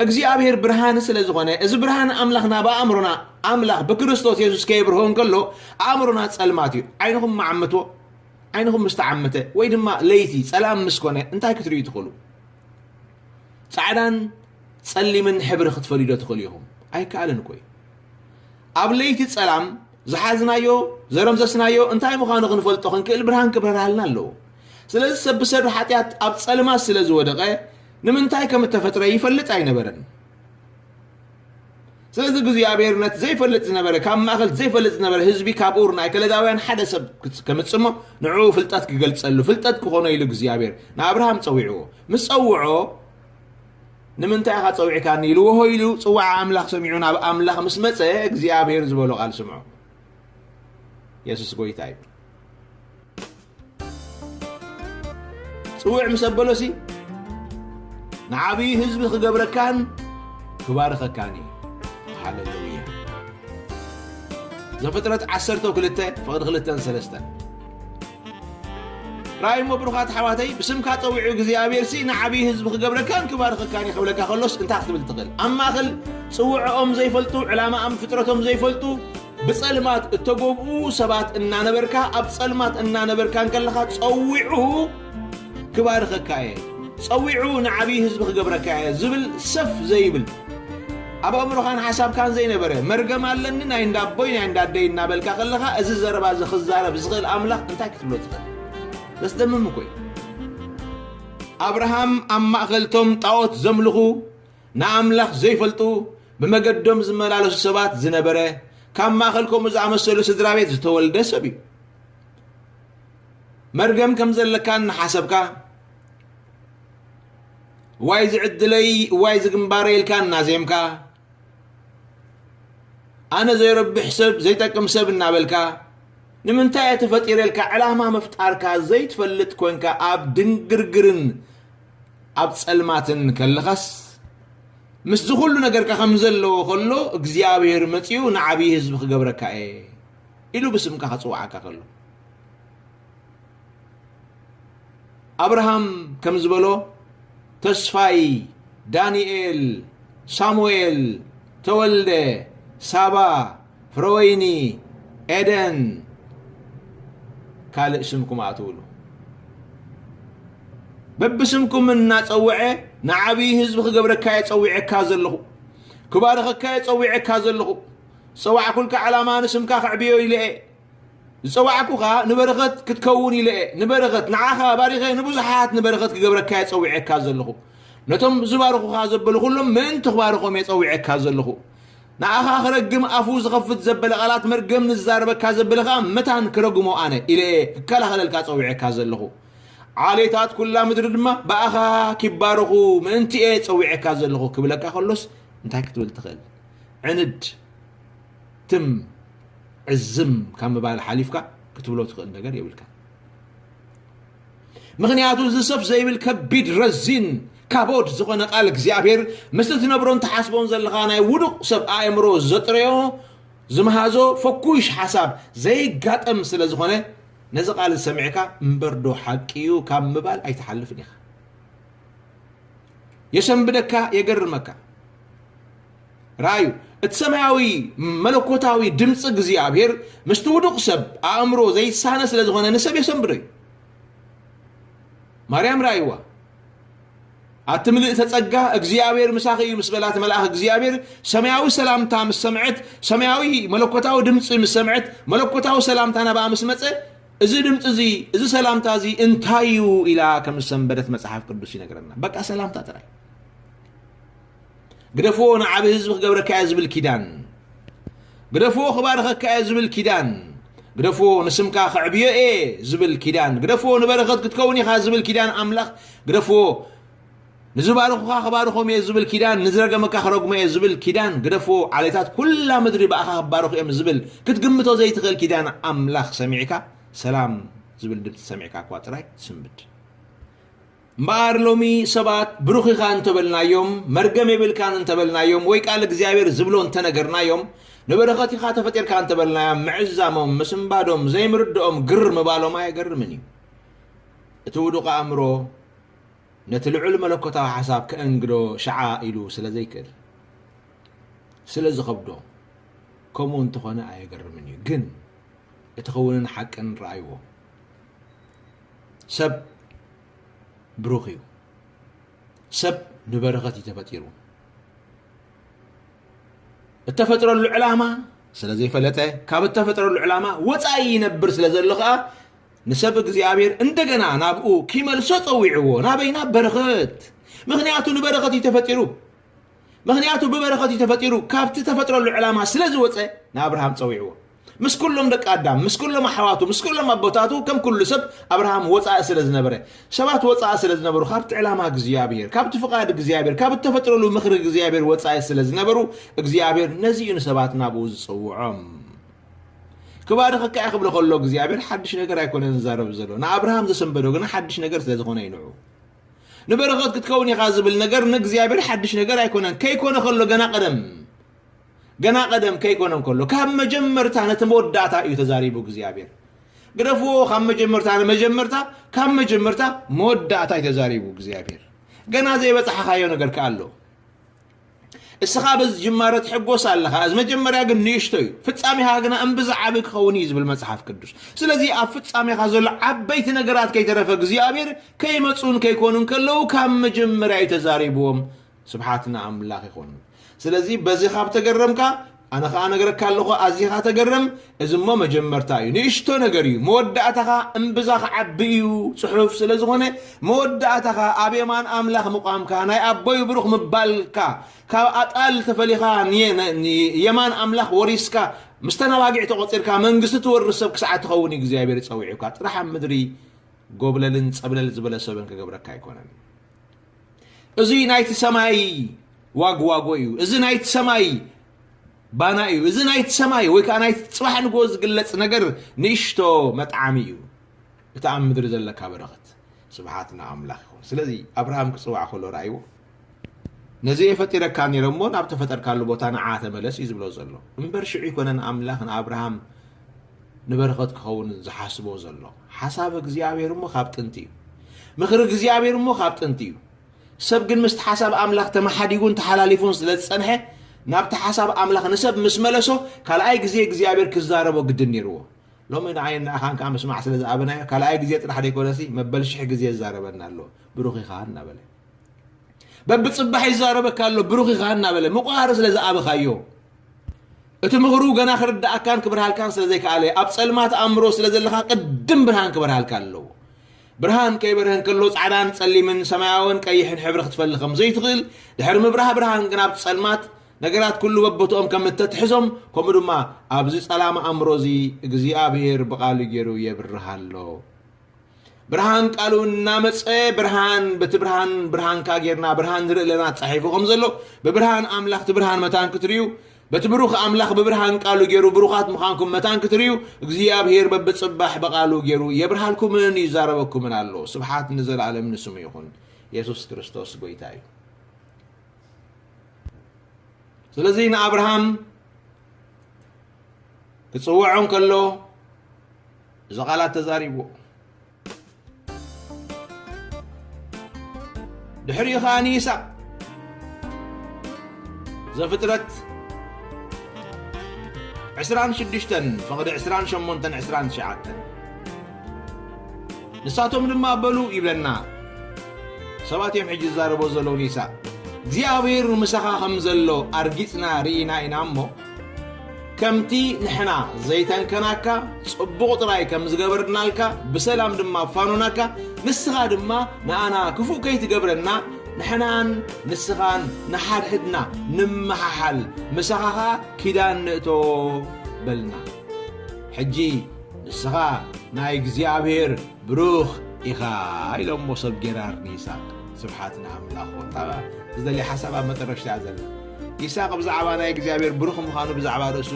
እግዚኣብሔር ብርሃን ስለ ዝኾነ እዚ ብርሃን ኣምላኽና ብኣእምሮና ኣምላኽ ብክርስቶስ የሱስ ከየብርሆ እንከሎ ኣእምሮና ጸልማት እዩ። ዓይንኹም መዓምቶ ዓይንኹም ምስ ተዓመተ ወይ ድማ ለይቲ ጸላም ምስ ኮነ እንታይ ክትርእዩ ትኽእሉ? ጻዕዳን ጸሊምን ሕብሪ ክትፈልዩዶ ትኽእሉ ኢኹም? ኣይከኣልን እኮ እዩ። ኣብ ለይቲ ጸላም ዝሓዝናዮ ዘረምሰስናዮ እንታይ ምዃኑ ክንፈልጦ ክንክእል ብርሃን ክብረርሃልና ኣለዎ። ስለዚ ሰብ ብሰዱ ሓጢኣት ኣብ ጸልማት ስለ ዝወደቐ ንምንታይ ከም እተፈጥረ ይፈልጥ ኣይነበረን። ስለዚ እግዚኣብሔር ነቲ ዘይፈልጥ ዝነበረ ካብ ማእኸል ዘይፈልጥ ዝነበረ ህዝቢ ካብ ኡር ናይ ከለዳውያን ሓደ ሰብ ክጽ- ከምጽእ እሞ ንዕኡ ፍልጠት ክገልጸሉ ፍልጠት ክኾኖ ኢሉ እግዚኣብሔር ንኣብርሃም ጸዊዕዎ ምስ ጸውዖ ንምንታይ ኢኻ ጸዊዕካኒ ኢልዎ ሆይ ኢሉ ጽዋዓ ኣምላኽ ሰሚዑ ናብ ኣምላኽ ምስ መጸ እግዚኣብሔር ዝበሎ ቃል ስምዖ የሱስ ጎይታ እዩ ጽውዕ ምስ ኣበሎሲ ንዓብዪ ህዝቢ ክገብረካን ክባርኸካን እዩ ሃለሉያ ዘፍጥረት ዓሰርተ ክልተ ፍቕዲ ክልተን ሰለስተን ራይሞ ብሩኻት ኣሕዋተይ ብስምካ ፀዊዑ እግዚኣብሔርሲ ንዓብዪ ህዝቢ ክገብረካን ክባርኸካን እዩ ክብለካ ከሎስ እንታይ ክትብል ትኽእል ኣብ ማእኸል ፅውዕኦም ዘይፈልጡ ዕላማኣም ፍጥረቶም ዘይፈልጡ ብፀልማት እተጎብኡ ሰባት እናነበርካ ኣብ ፀልማት እናነበርካ እንከለኻ ፀዊዑ ክባርኸካ እየ ፀዊዑ ንዓብዪ ህዝቢ ክገብረካ እየ ዝብል ሰፍ ዘይብል ኣብ ኣእምሮኻን ሓሳብካን ዘይነበረ መርገም ኣለኒ ናይ እንዳ ኣቦይ ናይ እንዳ ኣደይ እናበልካ ከለኻ እዚ ዘረባ እዚ ክዛረብ ዝኽእል ኣምላኽ እንታይ ክትብሎ ትኽእል ዘስደምም እኮ እዩ ኣብርሃም ኣብ ማእኸልቶም ጣዖት ዘምልኹ ንኣምላኽ ዘይፈልጡ ብመገዶም ዝመላለሱ ሰባት ዝነበረ ካብ ማእኸል ከምኡ ዝኣመሰሉ ስድራ ቤት ዝተወልደ ሰብ እዩ መርገም ከም ዘለካ እናሓሰብካ እዋይ እዚ ዕድለይ እዋይ እዚ ግንባረይ ኢልካ እናዜምካ ኣነ ዘይረብሕ ሰብ ዘይጠቅም ሰብ እናበልካ ንምንታይ እየ ተፈጢረ ኢልካ ዕላማ ምፍጣርካ ዘይትፈልጥ ኮንካ ኣብ ድንግርግርን ኣብ ጸልማትን ከለኻስ ምስዚ ኩሉ ነገርካ ከም ዘለዎ ከሎ እግዚኣብሔር መጺኡ ንዓብዪ ህዝቢ ክገብረካ እየ ኢሉ ብስምካ ክጽውዓካ ከሎ ኣብርሃም ከም ዝበሎ ተስፋይ፣ ዳንኤል፣ ሳሙኤል፣ ተወልደ፣ ሳባ፣ ፍረወይኒ፣ ኤደን ካልእ ስምኩም ኣእትውሉ። በብስምኩም እናፀውዐ ንዓብዪ ህዝቢ ክገብረካየ ፀዊዐካ ዘለኹ ክባርኸካየ ፀዊዐካ ዘለኹ ዝፀዋዕኩልካ ዕላማ ንስምካ ከዕብዮ ኢለ እየ። ዝጸዋዕኩኻ ንበረኸት ክትከውን ኢለ እየ፣ ንበረኸት፣ ንዓኻ ባሪኸ ንብዙሓት ንበረኸት ክገብረካ እየ ጸዊዔካ ዘለኹ። ነቶም ዝባርኹኻ ዘበሉ ኩሎም ምእንቲ ክባርኾም እየ ጸዊዔካ ዘለኹ። ንኣኻ ክረግም ኣፉ ዝኸፍት ዘበለ ቃላት መርገም ንዝዛረበካ ዘበለ ከኣ መታን ክረግሞ ኣነ ኢለ እየ ክከላኸለልካ ጸዊዔካ ዘለኹ። ዓሌታት ኩላ ምድሪ ድማ ብኣኻ ኪባረኹ ምእንቲ እየ ጸዊዔካ ዘለኹ ክብለካ ከሎስ እንታይ ክትብል ትኽእል? ዕንድ! ትም ዕዝም ካብ ምባል ሓሊፍካ ክትብሎ ትኽእል ነገር የብልካን። ምኽንያቱ እዚ ሰፍ ዘይብል ከቢድ ረዚን ካቦድ ዝኾነ ቃል እግዚኣብሔር ምስ እትነብሮን ትሓስቦን ዘለኻ ናይ ውዱቕ ሰብ ኣእምሮ ዘጥረዮ ዝመሃዞ ፈኩሽ ሓሳብ ዘይጋጠም ስለ ዝኾነ ነዚ ቃል ዝሰሚዕካ እምበርዶ ሓቂ እዩ ካብ ምባል ኣይትሓልፍን ኢኻ። የሰንብደካ፣ የገርመካ። ርኣዩ፣ እቲ ሰማያዊ መለኮታዊ ድምጺ እግዚኣብሔር ምስቲ ውዱቕ ሰብ ኣእምሮ ዘይሳነ ስለ ዝኾነ ንሰብ የሰንብዶ እዩ። ማርያም ርኣይዋ፣ ኣቲ ምልእተ ጸጋ እግዚኣብሔር ምሳኺ እዩ ምስ በላት መልኣኽ እግዚኣብሔር ሰማያዊ ሰላምታ ምስ ሰምዐት፣ ሰማያዊ መለኮታዊ ድምጺ ምስ ሰምዐት፣ መለኮታዊ ሰላምታ ናብኣ ምስ መጸ እዚ ድምፂ እዚ እዚ ሰላምታ እዚ እንታይ እዩ ኢላ ከም ዝሰንበደት መፅሓፍ ቅዱስ ይነግረና። በቃ ሰላምታ ጥራይ ግደፍዎ ንዓቢ ህዝቢ ክገብረካ እየ ዝብል ኪዳን ግደፍዎ ክባርኸካ እየ ዝብል ኪዳን ግደፍዎ ንስምካ ከዕብዮ እየ ዝብል ኪዳን ግደፍዎ ንበረኸት ክትከውን ኢኻ ዝብል ኪዳን ኣምላኽ ግደፍዎ ንዝባርኹኻ ክባርኾም እየ ዝብል ኪዳን ንዝረገመካ ክረግሞ እየ ዝብል ኪዳን ግደፍዎ ዓሌታት ኩላ ምድሪ ብኣኻ ክባርኹ እዮም ዝብል ክትግምቶ ዘይትኽእል ኪዳን ኣምላኽ ሰሚዕካ ሰላም ዝብል ድምፂ ሰሚዕካ እኳ ጥራይ ትስምብድ እምበኣር ሎሚ ሰባት ብሩኽ ኢኻ እንተ በልናዮም፣ መርገም የብልካን እንተ በልናዮም፣ ወይ ቃል እግዚኣብሔር ዝብሎ እንተ ነገርናዮም፣ ንበረኸት ኢኻ ተፈጢርካ እንተ በልናዮም፣ ምዕዛሞም፣ ምስንባዶም፣ ዘይምርድኦም፣ ግር ምባሎም ኣየገርምን እዩ። እቲ ውዱቕ ኣእምሮ ነቲ ልዑል መለኮታዊ ሓሳብ ከእንግዶ ሸዓ ኢሉ ስለ ዘይክእል ስለ ዝኸብዶ ከምኡ እንተኾነ ኣየገርምን እዩ። ግን እቲ ክውንን ሓቅን ረኣይዎ። ሰብ ብሩኽ እዩ ሰብ ንበረኸት እዩ ተፈጢሩ እተፈጥረሉ ዕላማ ስለ ዘይፈለጠ ካብ እተፈጥረሉ ዕላማ ወፃኢ ይነብር ስለ ዘሎ ከዓ ንሰብ እግዚኣብሔር እንደገና ናብኡ ኪመልሶ ፀዊዕዎ ናበይ ናብ በረኸት ምክንያቱ ንበረኸት እዩ ተፈጢሩ ምኽንያቱ ብበረኸት እዩ ተፈጢሩ ካብቲ ተፈጥረሉ ዕላማ ስለ ዝወፀ ንኣብርሃም ፀዊዕዎ ምስ ኩሎም ደቂ ኣዳም ምስ ኩሎም ኣሕዋቱ ምስ ኩሎም ኣቦታቱ ከም ኩሉ ሰብ ኣብርሃም ወፃኢ ስለ ዝነበረ ሰባት ወፃኢ ስለ ዝነበሩ ካብቲ ዕላማ እግዚኣብሔር ካብቲ ፍቓድ እግዚኣብሔር ካብ እተፈጥረሉ ምኽሪ እግዚኣብሔር ወፃኢ ስለ ዝነበሩ እግዚኣብሔር ነዚ እዩ ንሰባት ናብኡ ዝፅውዖም ክባርኸካ እየ ክብሎ ከሎ እግዚኣብሔር ሓድሽ ነገር ኣይኮነን ዝዛረብ ዘሎ ንኣብርሃም ዘሰንበዶ ግና ሓድሽ ነገር ስለ ዝኾነ ይንዑ ንበረኸት ክትከውን ኢኻ ዝብል ነገር ንእግዚኣብሔር ሓድሽ ነገር ኣይኮነን ከይኮነ ከሎ ገና ቀደም ገና ቀደም ከይኮነ ከሎ ካብ መጀመርታ ነቲ መወዳእታ እዩ ተዛሪቡ እግዚኣብሔር ግደፍዎ ካብ መጀመርታ ንመጀመርታ ካብ መጀመርታ መወዳእታ እዩ ተዛሪቡ እግዚኣብሔር ገና ዘይበፅሓኻዮ ነገር ከ ኣሎ እስኻ በዚ ጅማረ ትሕጎስ ኣለኻ፣ እዚ መጀመርያ ግን ንእሽቶ እዩ፣ ፍጻሜኻ ግና እምብዛ ዓቢ ክኸውን እዩ ዝብል መጽሓፍ ቅዱስ። ስለዚ ኣብ ፍጻሜኻ ዘሎ ዓበይቲ ነገራት ከይተረፈ እግዚኣብሔር ከይመጽኡን ከይኮኑን ከለዉ ካብ መጀመርያ እዩ ተዛሪብዎም። ስብሓት ንኣምላኽ ይኹን። ስለዚ በዚ ካብ ተገረምካ ኣነ ከኣ እነግረካ ኣለኹ፣ ኣዚኻ ተገርም፣ እዚ እሞ መጀመርታ እዩ፣ ንእሽቶ ነገር እዩ፣ መወዳእታኻ እምብዛ ክዓቢ እዩ፣ ጽሑፍ ስለ ዝኾነ፣ መወዳእታኻ ኣብ የማን ኣምላኽ ምቛምካ፣ ናይ ኣቦይ ብሩኽ ምባልካ፣ ካብ ኣጣል ተፈሊኻ ንየማን ኣምላኽ ወሪስካ፣ ምስተን ኣባጊዕ ተቖጺርካ መንግስቲ ትወርስ ሰብ ክሳዕ እትኸውን እግዚኣብሔር ጸዊዑካ፣ ጥራሕ ኣብ ምድሪ ጎብለልን ጸብለል ዝበለ ሰብን ክገብረካ ኣይኮነን። እዙይ ናይቲ ሰማይ ዋግዋጎ እዩ እዚ ናይቲ ሰማይ ባና እዩ እዚ ናይቲ ሰማይ ወይ ከዓ ናይቲ ፅባሕ ንጎ ዝግለፅ ነገር ንእሽቶ መጥዓሚ እዩ እቲ ኣብ ምድሪ ዘለካ በረኸት ስብሓት ንኣምላኽ ይኹን ስለዚ ኣብርሃም ክፅዋዕ ከሎ ረኣይዎ ነዚ እየ ፈጢረካ ነይረ እሞ ናብ ተፈጠርካሉ ቦታ ንዓ ተመለስ እዩ ዝብሎ ዘሎ እምበር ሽዑ ይኮነን ኣምላኽ ንኣብርሃም ንበረኸት ክኸውንን ዝሓስቦ ዘሎ። ሓሳብ እግዚኣብሔር እሞ ካብ ጥንቲ እዩ። ምኽሪ እግዚኣብሔር እሞ ካብ ጥንቲ እዩ። ሰብ ግን ምስቲ ሓሳብ ኣምላኽ ተመሓዲጉን ተሓላሊፉን ስለ ዝጸንሐ ናብቲ ሓሳብ ኣምላኽ ንሰብ ምስ መለሶ ካልኣይ ግዜ እግዚኣብሔር ክዛረቦ ግድን ነይርዎ ሎሚ ንዓይን ንኣኻን ከዓ ምስማዕ ስለ ዝኣበናዮ ካልኣይ ግዜ ጥራሕ ዘይኮነሲ መበል ሽሕ ግዜ ዝዛረበና ኣሎ ብሩኽ ኢኻ እናበለ በብፅባሕ ይዛረበካ ኣሎ ብሩኽ ኢኻ እናበለ ምቑሃር ስለ ዝኣበኻዮ እቲ ምኽሩ ገና ክርዳኣካን ክብርሃልካን ስለ ዘይከኣለ ኣብ ጸልማት ኣእምሮ ስለ ዘለኻ ቅድም ብርሃን ክበርሃልካ ኣለዎ ብርሃን ከይበርሀ እንከሎ ጻዕዳን ጸሊምን ሰማያውን ቀይሕን ሕብሪ ክትፈሊ ከም ዘይትኽእል ድሕሪ ምብራህ ብርሃን ግን ኣብ ጸልማት ነገራት ኩሉ በቦትኦም ከም እተትሕዞም ከምኡ ድማ ኣብዚ ጸላም ኣእምሮ እዚ እግዚኣብሄር ብቓሉ ገይሩ የብርሃ ኣሎ ብርሃን ቃሉ እናመፀ ብርሃን በቲ ብርሃን ብርሃንካ ጌርና ብርሃን ንርኢ ኣለና ተፃሒፉ ከም ዘሎ ብብርሃን ኣምላኽ እቲ ብርሃን መታን ክትርእዩ በቲ ብሩኽ ኣምላኽ ብብርሃን ቃሉ ገይሩ ብሩኻት ምዃንኩም መታን ክትርእዩ እግዚኣብሄር በብፅባሕ ብቓሉ ገይሩ የብርሃልኩምን ይዛረበኩምን ኣሎ ስብሓት ንዘለኣለም ንስሙ ይኹን የሱስ ክርስቶስ ጎይታ እዩ ስለዚ ንኣብርሃም ክፅውዖ እንከሎ እዚ ቃላት ተዛሪብዎ። ድሕሪኡ ኸኣ ንይስሐቅ ዘፍጥረት ዕስራን ሽዱሽተን ፍቕዲ ዕስራን ሸሞንተን ዕስራን ትሽዓተን ንሳቶም ድማ በሉ ይብለና ሰባት እዮም ሕጂ ዝዛረቦ ዘለዉ ንይስሐቅ እግዚኣብሔር ምሳኻ ከም ዘሎ ኣርጊጽና ርኢና ኢና እሞ ከምቲ ንሕና ዘይተንከናካ ጽቡቕ ጥራይ ከም ዝገበርናልካ ብሰላም ድማ ፋኖናካ ንስኻ ድማ ንኣና ክፉእ ከይትገብረና ንሕናን ንስኻን ንሓድሕድና ንመሓሓል ምሳኻ ኸኣ ኪዳን ንእቶ በልና ሕጂ ንስኻ ናይ እግዚኣብሔር ብሩኽ ኢኻ ኢሎሞ ሰብ ጌራር ንይስቅ ስብሓት ንኣምላኽ ዝደልየ ሓሳብ ኣብ መጠረሽታ እያ ዘላ ይስሃቅ ብዛዕባ ናይ እግዚኣብሔር ብሩኽ ምዃኑ ብዛዕባ ርእሱ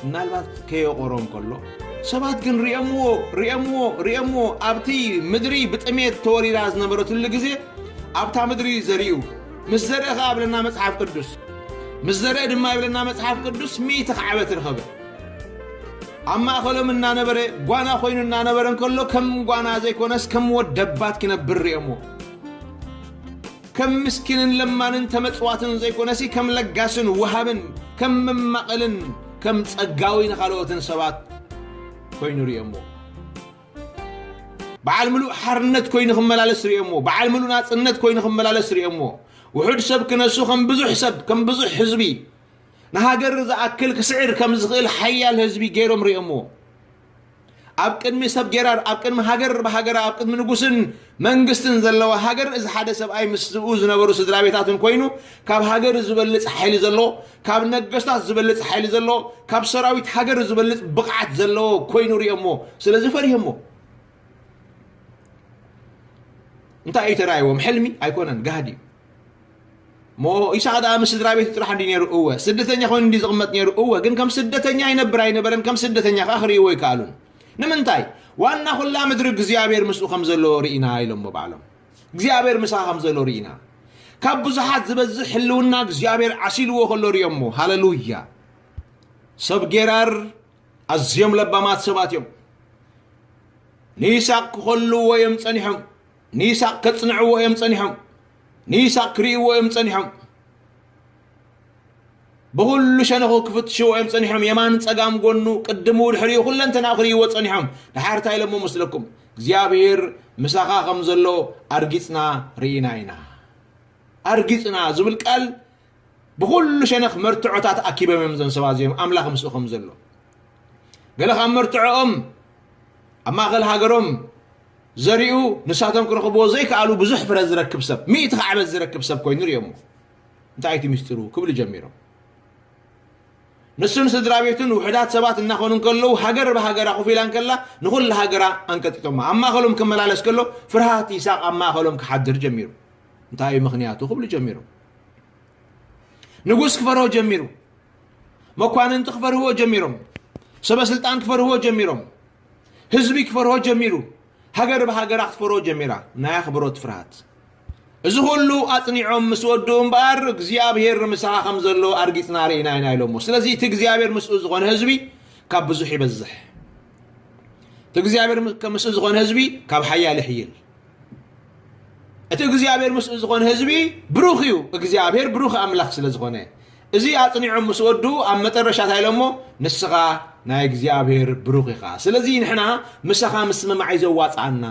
ምናልባት ከየቖሮ እንከሎ ሰባት ግን ሪኦምዎ ሪኦምዎ ሪኦምዎ ኣብቲ ምድሪ ብጥሜት ተወሪራ ዝነበረትሉ ግዜ ኣብታ ምድሪ ዘሪኡ ምስ ዘርኢ ከዓ ይብለና መፅሓፍ ቅዱስ ምስ ዘርኢ ድማ ይብለና መፅሓፍ ቅዱስ ሚእቲ ካዕበት ረኸበ ኣብ ማእኸሎም እናነበረ ጓና ኮይኑ እናነበረ እንከሎ ከም ጓና ዘይኮነስ ከም ወደባት ክነብር ሪኦምዎ ከም ምስኪንን ለማንን ተመጽዋትን ዘይኮነሲ ከም ለጋስን ወሃብን ከም መማቕልን ከም ጸጋዊ ንኻልኦትን ሰባት ኮይኑ ርእዮሞ በዓል ምሉእ ሓርነት ኮይኑ ክመላለስ ርእዮሞ በዓል ምሉእ ናጽነት ኮይኑ ክመላለስ ርእዮሞ ውሑድ ሰብ ክነሱ ከም ብዙሕ ሰብ ከም ብዙሕ ህዝቢ ንሃገር ዝኣክል ክስዕር ከም ዝኽእል ሓያል ህዝቢ ገይሮም ርእዮሞ ኣብ ቅድሚ ሰብ ጌራር ኣብ ቅድሚ ሃገር ብሃገራ ኣብ ቅድሚ ንጉስን መንግስትን ዘለዋ ሃገር እዚ ሓደ ሰብኣይ ምስ ዝብኡ ዝነበሩ ስድራ ቤታትን ኮይኑ ካብ ሃገር ዝበልፅ ሓይሊ ዘለዎ ካብ ነገስታት ዝበልፅ ሓይሊ ዘለዎ ካብ ሰራዊት ሃገር ዝበልፅ ብቕዓት ዘለዎ ኮይኑ ሪኦሞ ስለዚ ፈሪሆሞ እንታይ እዩ ተራእይዎም ሕልሚ ኣይኮነን ጋህዲ እዩ ሞ ኢሳቅ ደኣ ምስ ስድራ ቤቱ ጥራሕ እንዲ ነይሩ እወ ስደተኛ ኮይኑ እንዲ ዝቕመጥ ነይሩ እወ ግን ከም ስደተኛ ይነብር ኣይነበረን ከም ስደተኛ ከኣ ክርእይዎ ኣይከኣሉን ንምንታይ ዋና ኩላ ምድሪ እግዚኣብሔር ምስኡ ከም ዘሎ ርኢና ኢሎሞ ባዕሎም እግዚኣብሔር ምሳ ከም ዘሎ ርኢና ካብ ብዙሓት ዝበዝሕ ህልውና እግዚኣብሔር ዓሲልዎ ከሎ ርዮሞ ሃለሉያ ሰብ ጌራር ኣዝዮም ለባማት ሰባት እዮም ንይስቅ ክኸልዎ እዮም ጸኒሖም ንይስሃቅ ከጽንዕዎ እዮም ጸኒሖም ንይስሃቅ ክርእይዎ እዮም ጸኒሖም ብኹሉ ሸነኹ ክፍትሽዎ እዮም ጸኒሖም የማን ጸጋም ጎኑ ቅድሙ ድሕሪኡ ኩለንተና ክርእይዎ ጸኒሖም ድሓር እንታይ ኢሎሞ መስለኩም እግዚኣብሔር ምሳኻ ከም ዘሎ ኣርጊጽና ርኢና ኢና ኣርጊጽና ዝብል ቃል ብኹሉ ሸነኽ መርትዖታት ኣኪቦም እዮም እዞም ሰባት እዚኦም ኣምላኽ ምስኡ ከም ዘሎ ገለ ካብ መርትዖኦም ኣብ ማእኸል ሃገሮም ዘሪኡ ንሳቶም ክረኽብዎ ዘይከኣሉ ብዙሕ ፍረ ዝረክብ ሰብ ሚእቲ ካዕበት ዝረክብ ሰብ ኮይኑ ሪኦሞ እንታይ እቲ ምስጢሩ ክብሉ ጀሚሮም ንሱን ስድራ ቤቱን ውሕዳት ሰባት እናኾኑ ከለዉ ሃገር ብሃገራ ኮፍ ኢላ ከላ ንኹሉ ሃገራ ኣንቀጢጦማ ኣብ ማእኸሎም ክመላለስ ከሎ ፍርሃት ይሳቅ ኣብ ማእኸሎም ክሓድር ጀሚሩ እንታይ እዩ ምክንያቱ ክብሉ ጀሚሮም ንጉስ ክፈርሆ ጀሚሩ መኳንንቲ ክፈርህዎ ጀሚሮም ሰበ ስልጣን ክፈርህዎ ጀሚሮም ህዝቢ ክፈርሆ ጀሚሩ ሃገር ብሃገራ ክትፈርሆ ጀሚራ ናይ ኣኽብሮት ፍርሃት እዚ ኩሉ ኣጽኒዖም ምስ ወድኡ እምበኣር እግዚኣብሄር ምሳኻ ከም ዘሎ ኣርጊጽና ርኢና ኢና ኢሎሞ ስለዚ እቲ እግዚኣብሄር ምስኡ ዝኾነ ህዝቢ ካብ ብዙሕ ይበዝሕ እቲ እግዚኣብሄር ምስ- ምስኡ ዝኾነ ህዝቢ ካብ ሓያል ይሕይል እቲ እግዚኣብሔር ምስኡ ዝኾነ ህዝቢ ብሩኽ እዩ እግዚኣብሔር ብሩኽ ኣምላኽ ስለ ዝኾነ እዚ ኣጽኒዖም ምስ ወዱ ኣብ መጠረሻ እንታይ ኢሎሞ ንስኻ ናይ እግዚኣብሔር ብሩኽ ኢኻ ስለዚ ንሕና ምሳኻ ምስምማዕ እዩ ዘዋጽኣና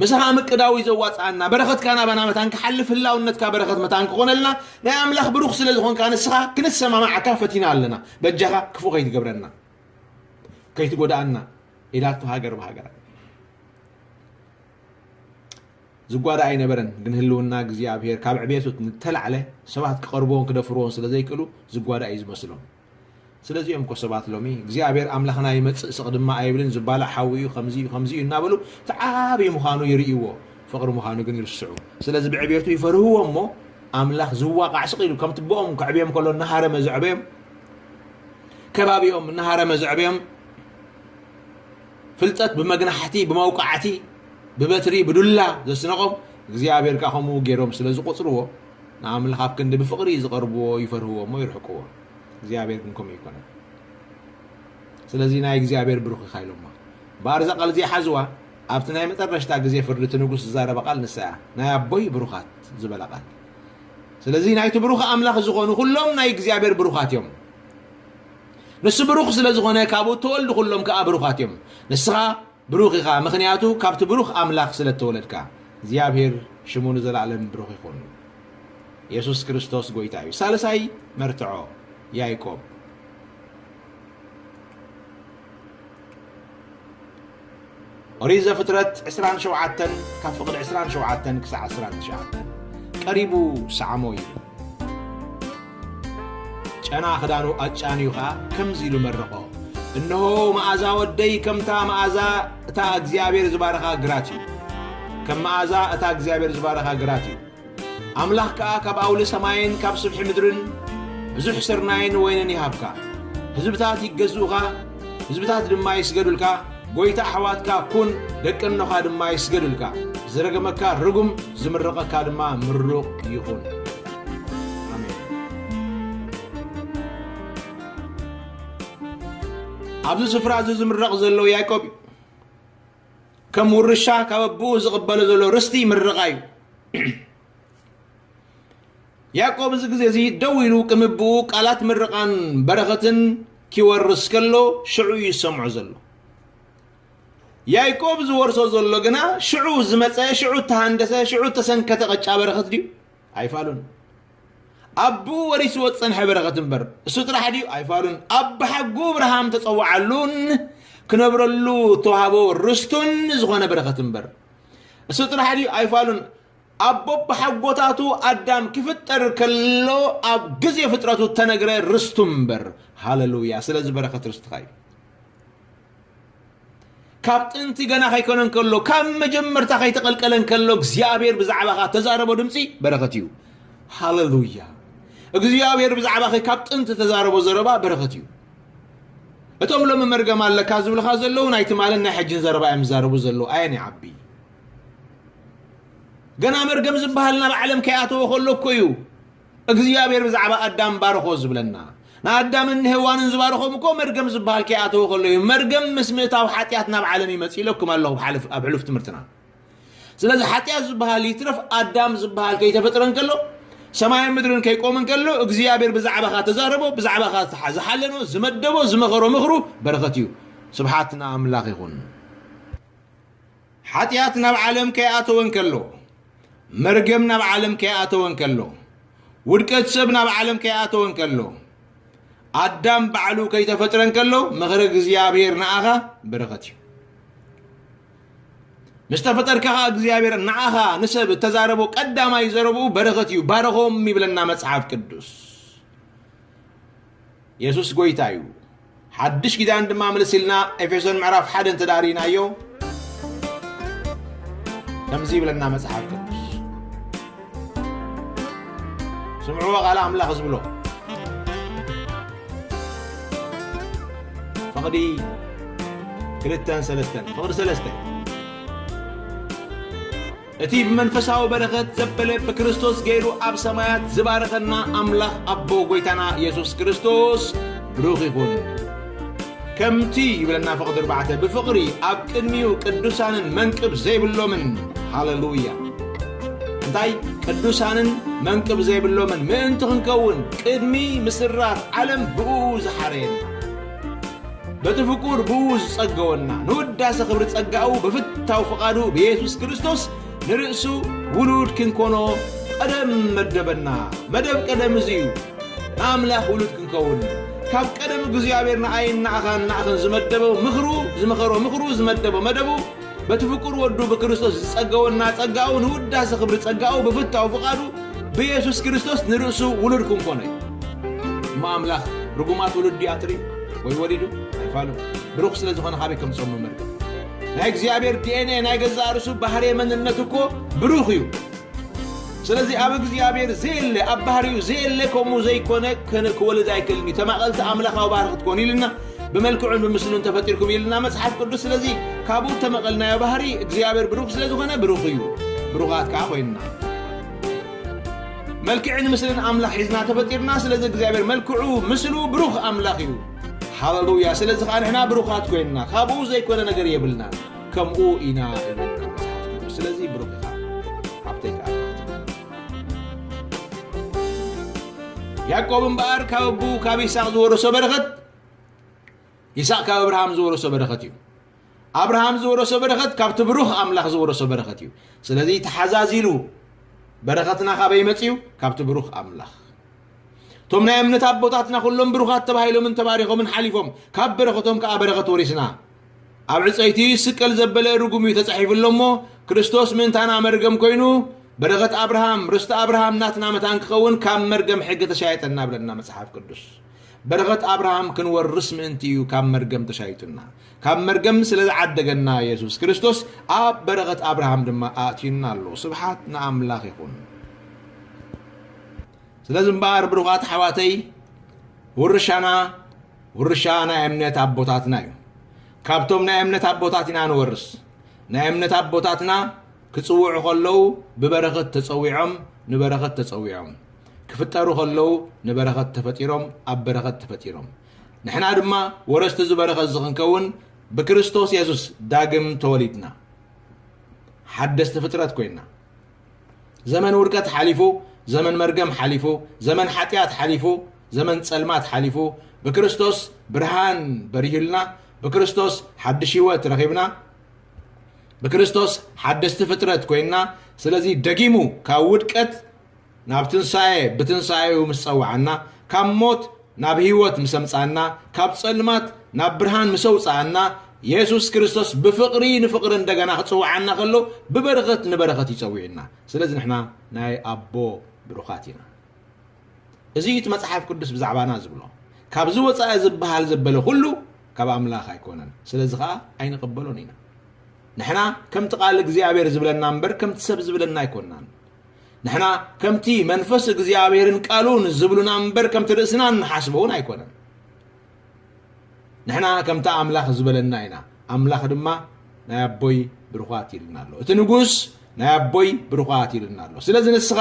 ምሳኻ ምቅዳው እዩ ዘዋጽኣና በረኸትካ ናባና መታን ክሓልፍ ህላውነትካ በረኸት መታን ክኾነልና ናይ ኣምላኽ ብሩኽ ስለ ዝኾንካ ንስኻ ክንሰማማዓካ ፈቲና ኣለና በጃኻ ክፉእ ከይትገብረና ከይትጎድኣና ኢላቶ ሃገር ብሃገራ ዝጓዳ ኣይነበረን ግን ህልውና እግዚኣብሄር ካብ ዕብየቱ ንተላዕለ ሰባት ክቐርብዎን ክደፍርዎን ስለ ዘይክእሉ ዝጓዳ እዩ ዝመስሎም ስለዚኦም እኮ ሰባት ሎሚ እግዚኣብሄር ኣምላኽና ይመፅእ ስቕ ድማ ኣይብልን ዝባላዕ ሓዊ እዩ ከምዚ እዩ ከምዚ እዩ እናበሉ እቲ ዓብዪ ምዃኑ ይርእይዎ ፍቕሪ ምዃኑ ግን ይርስዑ ስለዚ ብዕብየቱ ይፈርህዎ እሞ ኣምላኽ ዝዋቃዕ ስቕ ኢሉ ከምቲ ብኦም ከዕብዮም ከሎ እናሃረመ ዘዕበዮም ከባቢኦም እናሃረመ ዘዕበዮም ፍልጠት ብመግናሕቲ ብመውቃዕቲ ብበትሪ ብዱላ ዘስነቆም እግዚኣብሔር ከዓ ከምኡ ገይሮም ስለ ዝቆፅርዎ ንኣምላኽ ኣብ ክንዲ ብፍቕሪ ዝቐርብዎ ይፈርህዎ እሞ ይርሕቅዎ እግዚኣብሔር ግን ከምኡ ይኮነ ስለዚ ናይ እግዚኣብሔር ብሩኽ ኢኻ ኢሎሞ እምበኣር እዛ ቃል እዚኣ ሓዝዋ ኣብቲ ናይ መጠረሽታ ግዜ ፍርዲ እቲ ንጉስ ዝዛረበ ቃል ንሳ እያ ናይ ኣቦይ ብሩኻት ዝበላ ቃል ስለዚ ናይቲ ብሩኽ ኣምላኽ ዝኾኑ ኩሎም ናይ እግዚኣብሔር ብሩኻት እዮም። ንሱ ብሩኽ ስለ ዝኾነ ካብኡ እተወልዱ ኩሎም ከኣ ብሩኻት እዮም። ንስኻ ብሩኽ ኢኻ፣ ምኽንያቱ ካብቲ ብሩኽ ኣምላኽ ስለ እተወለድካ። እግዚኣብሔር ሽሙ ንዘለኣለም ብሩኽ ይኹን። የሱስ ክርስቶስ ጐይታ እዩ። ሳልሳይ መርትዖ ያዕቆብ ኦሪት ዘፍጥረት ዕስራን ሸውዓተን ካብ ፍቕዲ ዕስራን ሸውዓተን ክሳዕ ዕስራን ትሽዓተን ቀሪቡ ሰዓሞ ኢሉ ጨና ክዳኑ ኣጫንዩ ኸዓ ከምዚ ኢሉ መረቖ እንሆ መኣዛ ወደይ ከምታ መኣዛ እታ እግዚኣብሔር ዝባረኻ ግራት እዩ ከም መኣዛ እታ እግዚኣብሔር ዝባረኻ ግራት እዩ ኣምላኽ ከኣ ካብ ኣውሊ ሰማይን ካብ ስብሒ ምድርን ብዙሕ ስርናይን ወይንን ይሃብካ። ህዝብታት ይገዝኡኻ፣ ህዝብታት ድማ ይስገዱልካ። ጐይታ ኣሕዋትካ ኩን፣ ደቂ እኖኻ ድማ ይስገዱልካ። ዝረገመካ ርጉም፣ ዝምርቐካ ድማ ምሩቕ ይኹን። ኣብዚ ስፍራ እዚ ዝምረቕ ዘሎ ያዕቆብ እዩ ከም ውርሻ ካብ ኣቦኡ ዝቕበሎ ዘሎ ርስቲ ምርቓ እዩ። ያዕቆብ እዚ ግዜ እዚ ደው ኢሉ ከም ኣቦኡ ቃላት ምርቓን በረኸትን ኪወርስ ከሎ ሽዑ እዩ ዝሰምዖ ዘሎ። ያይቆብ ዝወርሶ ዘሎ ግና ሽዑ ዝመፀ ሽዑ እተሃንደሰ ሽዑ እተሰንከተ ቐጫ በረኸት ድዩ? ኣይፋሉን ኣቡኡ ወሪስዎ ዝጸንሐ በረኸት እምበር እሱ ጥራሕ ድዩ ኣይፋሉን ኣብ ብሓጉ ኣብርሃም ተጸዋዓሉን ክነብረሉ ተዋህቦ ርስቱን ዝኾነ በረኸት እምበር እሱ ጥራሕ ድዩ ኣይፋሉን ኣቦ ብሓጎታቱ ኣዳም ክፍጠር ከሎ ኣብ ግዜ ፍጥረቱ ተነግረ ርስቱ እምበር ሃለሉያ ስለዚ በረኸት ርስትኻ እዩ ካብ ጥንቲ ገና ከይኮነ እንከሎ ካብ መጀመርታ ከይተቐልቀለ እንከሎ እግዚኣብሔር ብዛዕባኻ ተዛረቦ ድምፂ በረኸት እዩ ሃለሉያ እግዚኣብሔር ብዛዕባኸ ካብ ጥንቲ ተዛረቦ ዘረባ በረኸት እዩ እቶም ሎሚ መርገም ኣለካ ዝብልኻ ዘለዉ ናይ ትማልን ናይ ሕጅን ዘረባ እዮም ዝዛረቡ ዘለዉ ኣየን ይዓቢ ገና መርገም ዝበሃል ናብ ዓለም ከይኣተወ ከሎ እኮ እዩ እግዚኣብሔር ብዛዕባ ኣዳም ባርኾ ዝብለና ንኣዳምን ንሄዋንን ዝባርኾም እኮ መርገም ዝበሃል ከይኣተወ ከሎ እዩ መርገም ምስ ምእታው ሓጢኣት ናብ ዓለም ይመፅ ኢለኩም ኣለኹ ኣብ ሕሉፍ ትምህርትና ስለዚ ሓጢኣት ዝበሃል ይትረፍ ኣዳም ዝበሃል ከይተፈጥረ እንከሎ ሰማይን ምድርን ከይቆም እንከሎ እግዚኣብሔር ብዛዕባኻ ተዛረቦ ብዛዕባኻ ዝሓለኖ ዝመደቦ ዝመኸሮ ምኽሩ በረኸት እዩ ስብሓት ንኣምላኽ ይኹን ሓጢኣት ናብ ዓለም ከይኣተወ እንከሎ፣ መርገም ናብ ዓለም ከይኣተወ እንከሎ፣ ውድቀት ሰብ ናብ ዓለም ከይኣተወ እንከሎ፣ ኣዳም ባዕሉ ከይተፈጥረ እንከሎ ምኽሪ እግዚኣብሔር ንኣኻ በረኸት እዩ። ምስ ተፈጠርካ ኸዓ እግዚኣብሔር ንኣኻ ንሰብ እተዛረቦ ቀዳማይ ዘረብኡ በረኸት እዩ። ባረኾም ይብለና መጽሓፍ ቅዱስ። የሱስ ጐይታ እዩ። ሓድሽ ኪዳን ድማ ምልስ ኢልና ኤፌሶን ምዕራፍ ሓደ እንተ ርኢናዮ ከምዚ ይብለና መጽሓፍ ቅዱስ ስምዕዎ ቃል ኣምላኽ ዝብሎ ፍቕዲ ክልተን ሰለስተን ፍቕዲ ሰለስተ እቲ ብመንፈሳዊ በረኸት ዘበለ ብክርስቶስ ገይሩ ኣብ ሰማያት ዝባረኸና ኣምላኽ ኣቦ ጎይታና የሱስ ክርስቶስ ብሩኽ ይኹን። ከምቲ ይብለና ፍቕዲ ኣርባዕተ ብፍቕሪ ኣብ ቅድሚኡ ቅዱሳንን መንቅብ ዘይብሎምን ሃለሉያ እንታይ ቅዱሳንን መንቅብ ዘይብሎምን ምእንቲ ክንከውን ቅድሚ ምስራት ዓለም ብእኡ ዝሓረየና በቲ ፍቁር ብኡ ዝጸገወና ንውዳሰ ክብሪ ጸጋኡ ብፍታው ፍቓዱ ብየሱስ ክርስቶስ ንርእሱ ውሉድ ክንኮኖ ቀደም መደበና መደብ ቀደም እዚ እዩ ንኣምላኽ ውሉድ ክንከውን ካብ ቀደም እግዚኣብሔር ንኣይን ንኣኻን ንኣኽን ዝመደበው ምኽሩ ዝመኸሮ ምኽሩ ዝመደበ መደቡ በቲ ፍቁር ወዱ ብክርስቶስ ዝጸገወና ጸጋኡ ንውዳሰ ክብሪ ጸጋኡ ብፍታው ፍቓዱ ብየሱስ ክርስቶስ ንርእሱ ውሉድ ክንኮነ እዩ እሞ ኣምላኽ ርጉማት ውሉድ ኣጥሪ ወይ ወሊዱ ኣይፋሉ ብሩኽ ስለ ዝኾነ ካበይ ከምጾም መመልከት ናይ እግዚኣብሔር ዲኤንኤ ናይ ገዛእ ርእሱ ባህሪ መንነት እኮ ብሩኽ እዩ ስለዚ ኣብ እግዚኣብሔር ዘየለ ኣብ ባህሪኡ ዘየለ ከምኡ ዘይኮነ ክወልድ ኣይክእልን እዩ ተማቐልቲ ኣምላኻዊ ባህሪ ክትኮኑ ኢልና ብመልክዑን ብምስሉን ተፈጢርኩም ኢልና መጽሓፍ ቅዱስ ስለዚ ካብኡ እተመቐልናዮ ባህሪ እግዚኣብሔር ብሩኽ ስለ ዝኾነ ብሩኽ እዩ ብሩኻት ከዓ ኮይንና መልክዕን ምስልን ኣምላኽ ሒዝና ተፈጢርና ስለዚ እግዚኣብሔር መልክዑ ምስሉ ብሩኽ ኣምላኽ እዩ ሃለሉያ ስለዚ ከዓ ንሕና ብሩኻት ኮይንና ካብኡ ዘይኮነ ነገር የብልና ከምኡ ኢና ስለዚ ብሩኽ ኢኻ ሃብተይ ከዓ ያእቆብ እምበኣር ካብ ኣቡ ካብ ይስቅ ዝወረሶ በረኸት ይስቅ ካብ ኣብርሃም ዝወረሶ በረኸት እዩ ኣብርሃም ዝወረሶ በረኸት ካብቲ ብሩኽ ኣምላኽ ዝወረሶ በረኸት እዩ ስለዚ ተሓዛዚሉ በረኸትና ካበይ መፅዩ ካብቲ ብሩኽ ኣምላኽ እቶም ናይ እምነት ኣቦታትና ኩሎም ብሩኻት ተባሂሎምን ተባሪኾምን ሓሊፎም ካብ በረኸቶም ከዓ በረኸት ወሪስና ኣብ ዕፀይቲ ስቀል ዘበለ ርጉም እዩ ተፃሒፉ ኣሎ እሞ ክርስቶስ ምእንታና መርገም ኮይኑ በረኸት ኣብርሃም ርስቲ ኣብርሃም ናትና መታን ክኸውን ካብ መርገም ሕጊ ተሻየጠና ብለና መፅሓፍ ቅዱስ በረኸት ኣብርሃም ክንወርስ ምእንቲ እዩ ካብ መርገም ተሻይጡና ካብ መርገም ስለ ዝዓደገና የሱስ ክርስቶስ ኣብ በረኸት ኣብርሃም ድማ ኣእትዩና ኣሎ ስብሓት ንኣምላኽ ይኹን ስለዚ እምበኣር ብሩኻት ሓዋተይ ውርሻና ውርሻ ናይ እምነት ኣቦታትና እዩ። ካብቶም ናይ እምነት ኣቦታት ኢና ንወርስ። ናይ እምነት ኣቦታትና ክጽውዑ ከለዉ ብበረኸት ተጸዊዖም ንበረኸት ተጸዊዖም፣ ክፍጠሩ ከለዉ ንበረኸት ተፈጢሮም ኣብ በረኸት ተፈጢሮም፣ ንሕና ድማ ወረስቲ እዚ በረኸት እዚ ክንከውን ብክርስቶስ የሱስ ዳግም ተወሊድና ሓደስቲ ፍጥረት ኮይና። ዘመን ውድቀት ሓሊፉ ዘመን መርገም ሓሊፉ ዘመን ሓጢኣት ሓሊፉ ዘመን ጸልማት ሓሊፉ ብክርስቶስ ብርሃን በሪህልና ብክርስቶስ ሓድሽ ህይወት ረኺብና ብክርስቶስ ሓደስቲ ፍጥረት ኮይንና ስለዚ ደጊሙ ካብ ውድቀት ናብ ትንሳኤ ብትንሳኤኡ ምስ ጸውዓና፣ ካብ ሞት ናብ ህይወት ምስ ኣምጽኣና፣ ካብ ጸልማት ናብ ብርሃን ምስ ኣውጽኣና፣ የሱስ ክርስቶስ ብፍቕሪ ንፍቕሪ እንደገና ክጽውዓና ከሎ ብበረኸት ንበረኸት እዩ ጸዊዑና። ስለዚ ንሕና ናይ ኣቦ ብሩኻት ኢና። እዚ እዩ እቲ መጽሓፍ ቅዱስ ብዛዕባና ዝብሎ። ካብዚ ወጻኢ ዝበሃል ዘበለ ኩሉ ካብ ኣምላኽ ኣይኮነን። ስለዚ ከኣ ኣይንቕበሎን ኢና። ንሕና ከምቲ ቃል እግዚኣብሔር ዝብለና እምበር ከምቲ ሰብ ዝብለና ኣይኮናን። ንሕና ከምቲ መንፈስ እግዚኣብሔርን ቃሉን ዝብሉና እምበር ከምቲ ርእስና እንሓስበውን ኣይኮነን ንሕና ከምቲ ኣምላኽ ዝበለና ኢና ኣምላኽ ድማ ናይ ኣቦይ ብሩኻት ይልና ኣሎ እቲ ንጉስ ናይ ኣቦይ ብሩኻት ይልና ኣሎ ስለዚ ንስኻ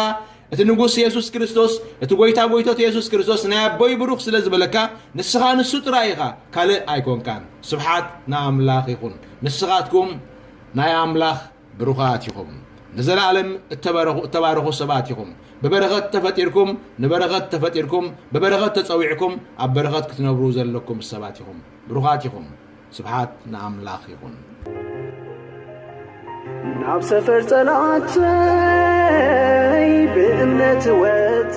እቲ ንጉስ የሱስ ክርስቶስ እቲ ጎይታ ጎይቶት የሱስ ክርስቶስ ናይ ኣቦይ ብሩኽ ስለ ዝበለካ ንስኻ ንሱ ጥራይ ኢኻ ካልእ ኣይኮንካን ስብሓት ንኣምላኽ ይኹን ንስኻትኩም ናይ ኣምላኽ ብሩኻት ኢኹም ንዘላኣለም እተበረኹ እተባረኹ ሰባት ኢኹም ብበረኸት ተፈጢርኩም ንበረኸት ተፈጢርኩም ብበረኸት ተጸዊዕኩም ኣብ በረኸት ክትነብሩ ዘለኩም ሰባት ኢኹም ብሩኻት ኢኹም ስብሓት ንኣምላኽ ይኹን ናብ ሰፈር ጸላእተይ ብእምነት ወጥ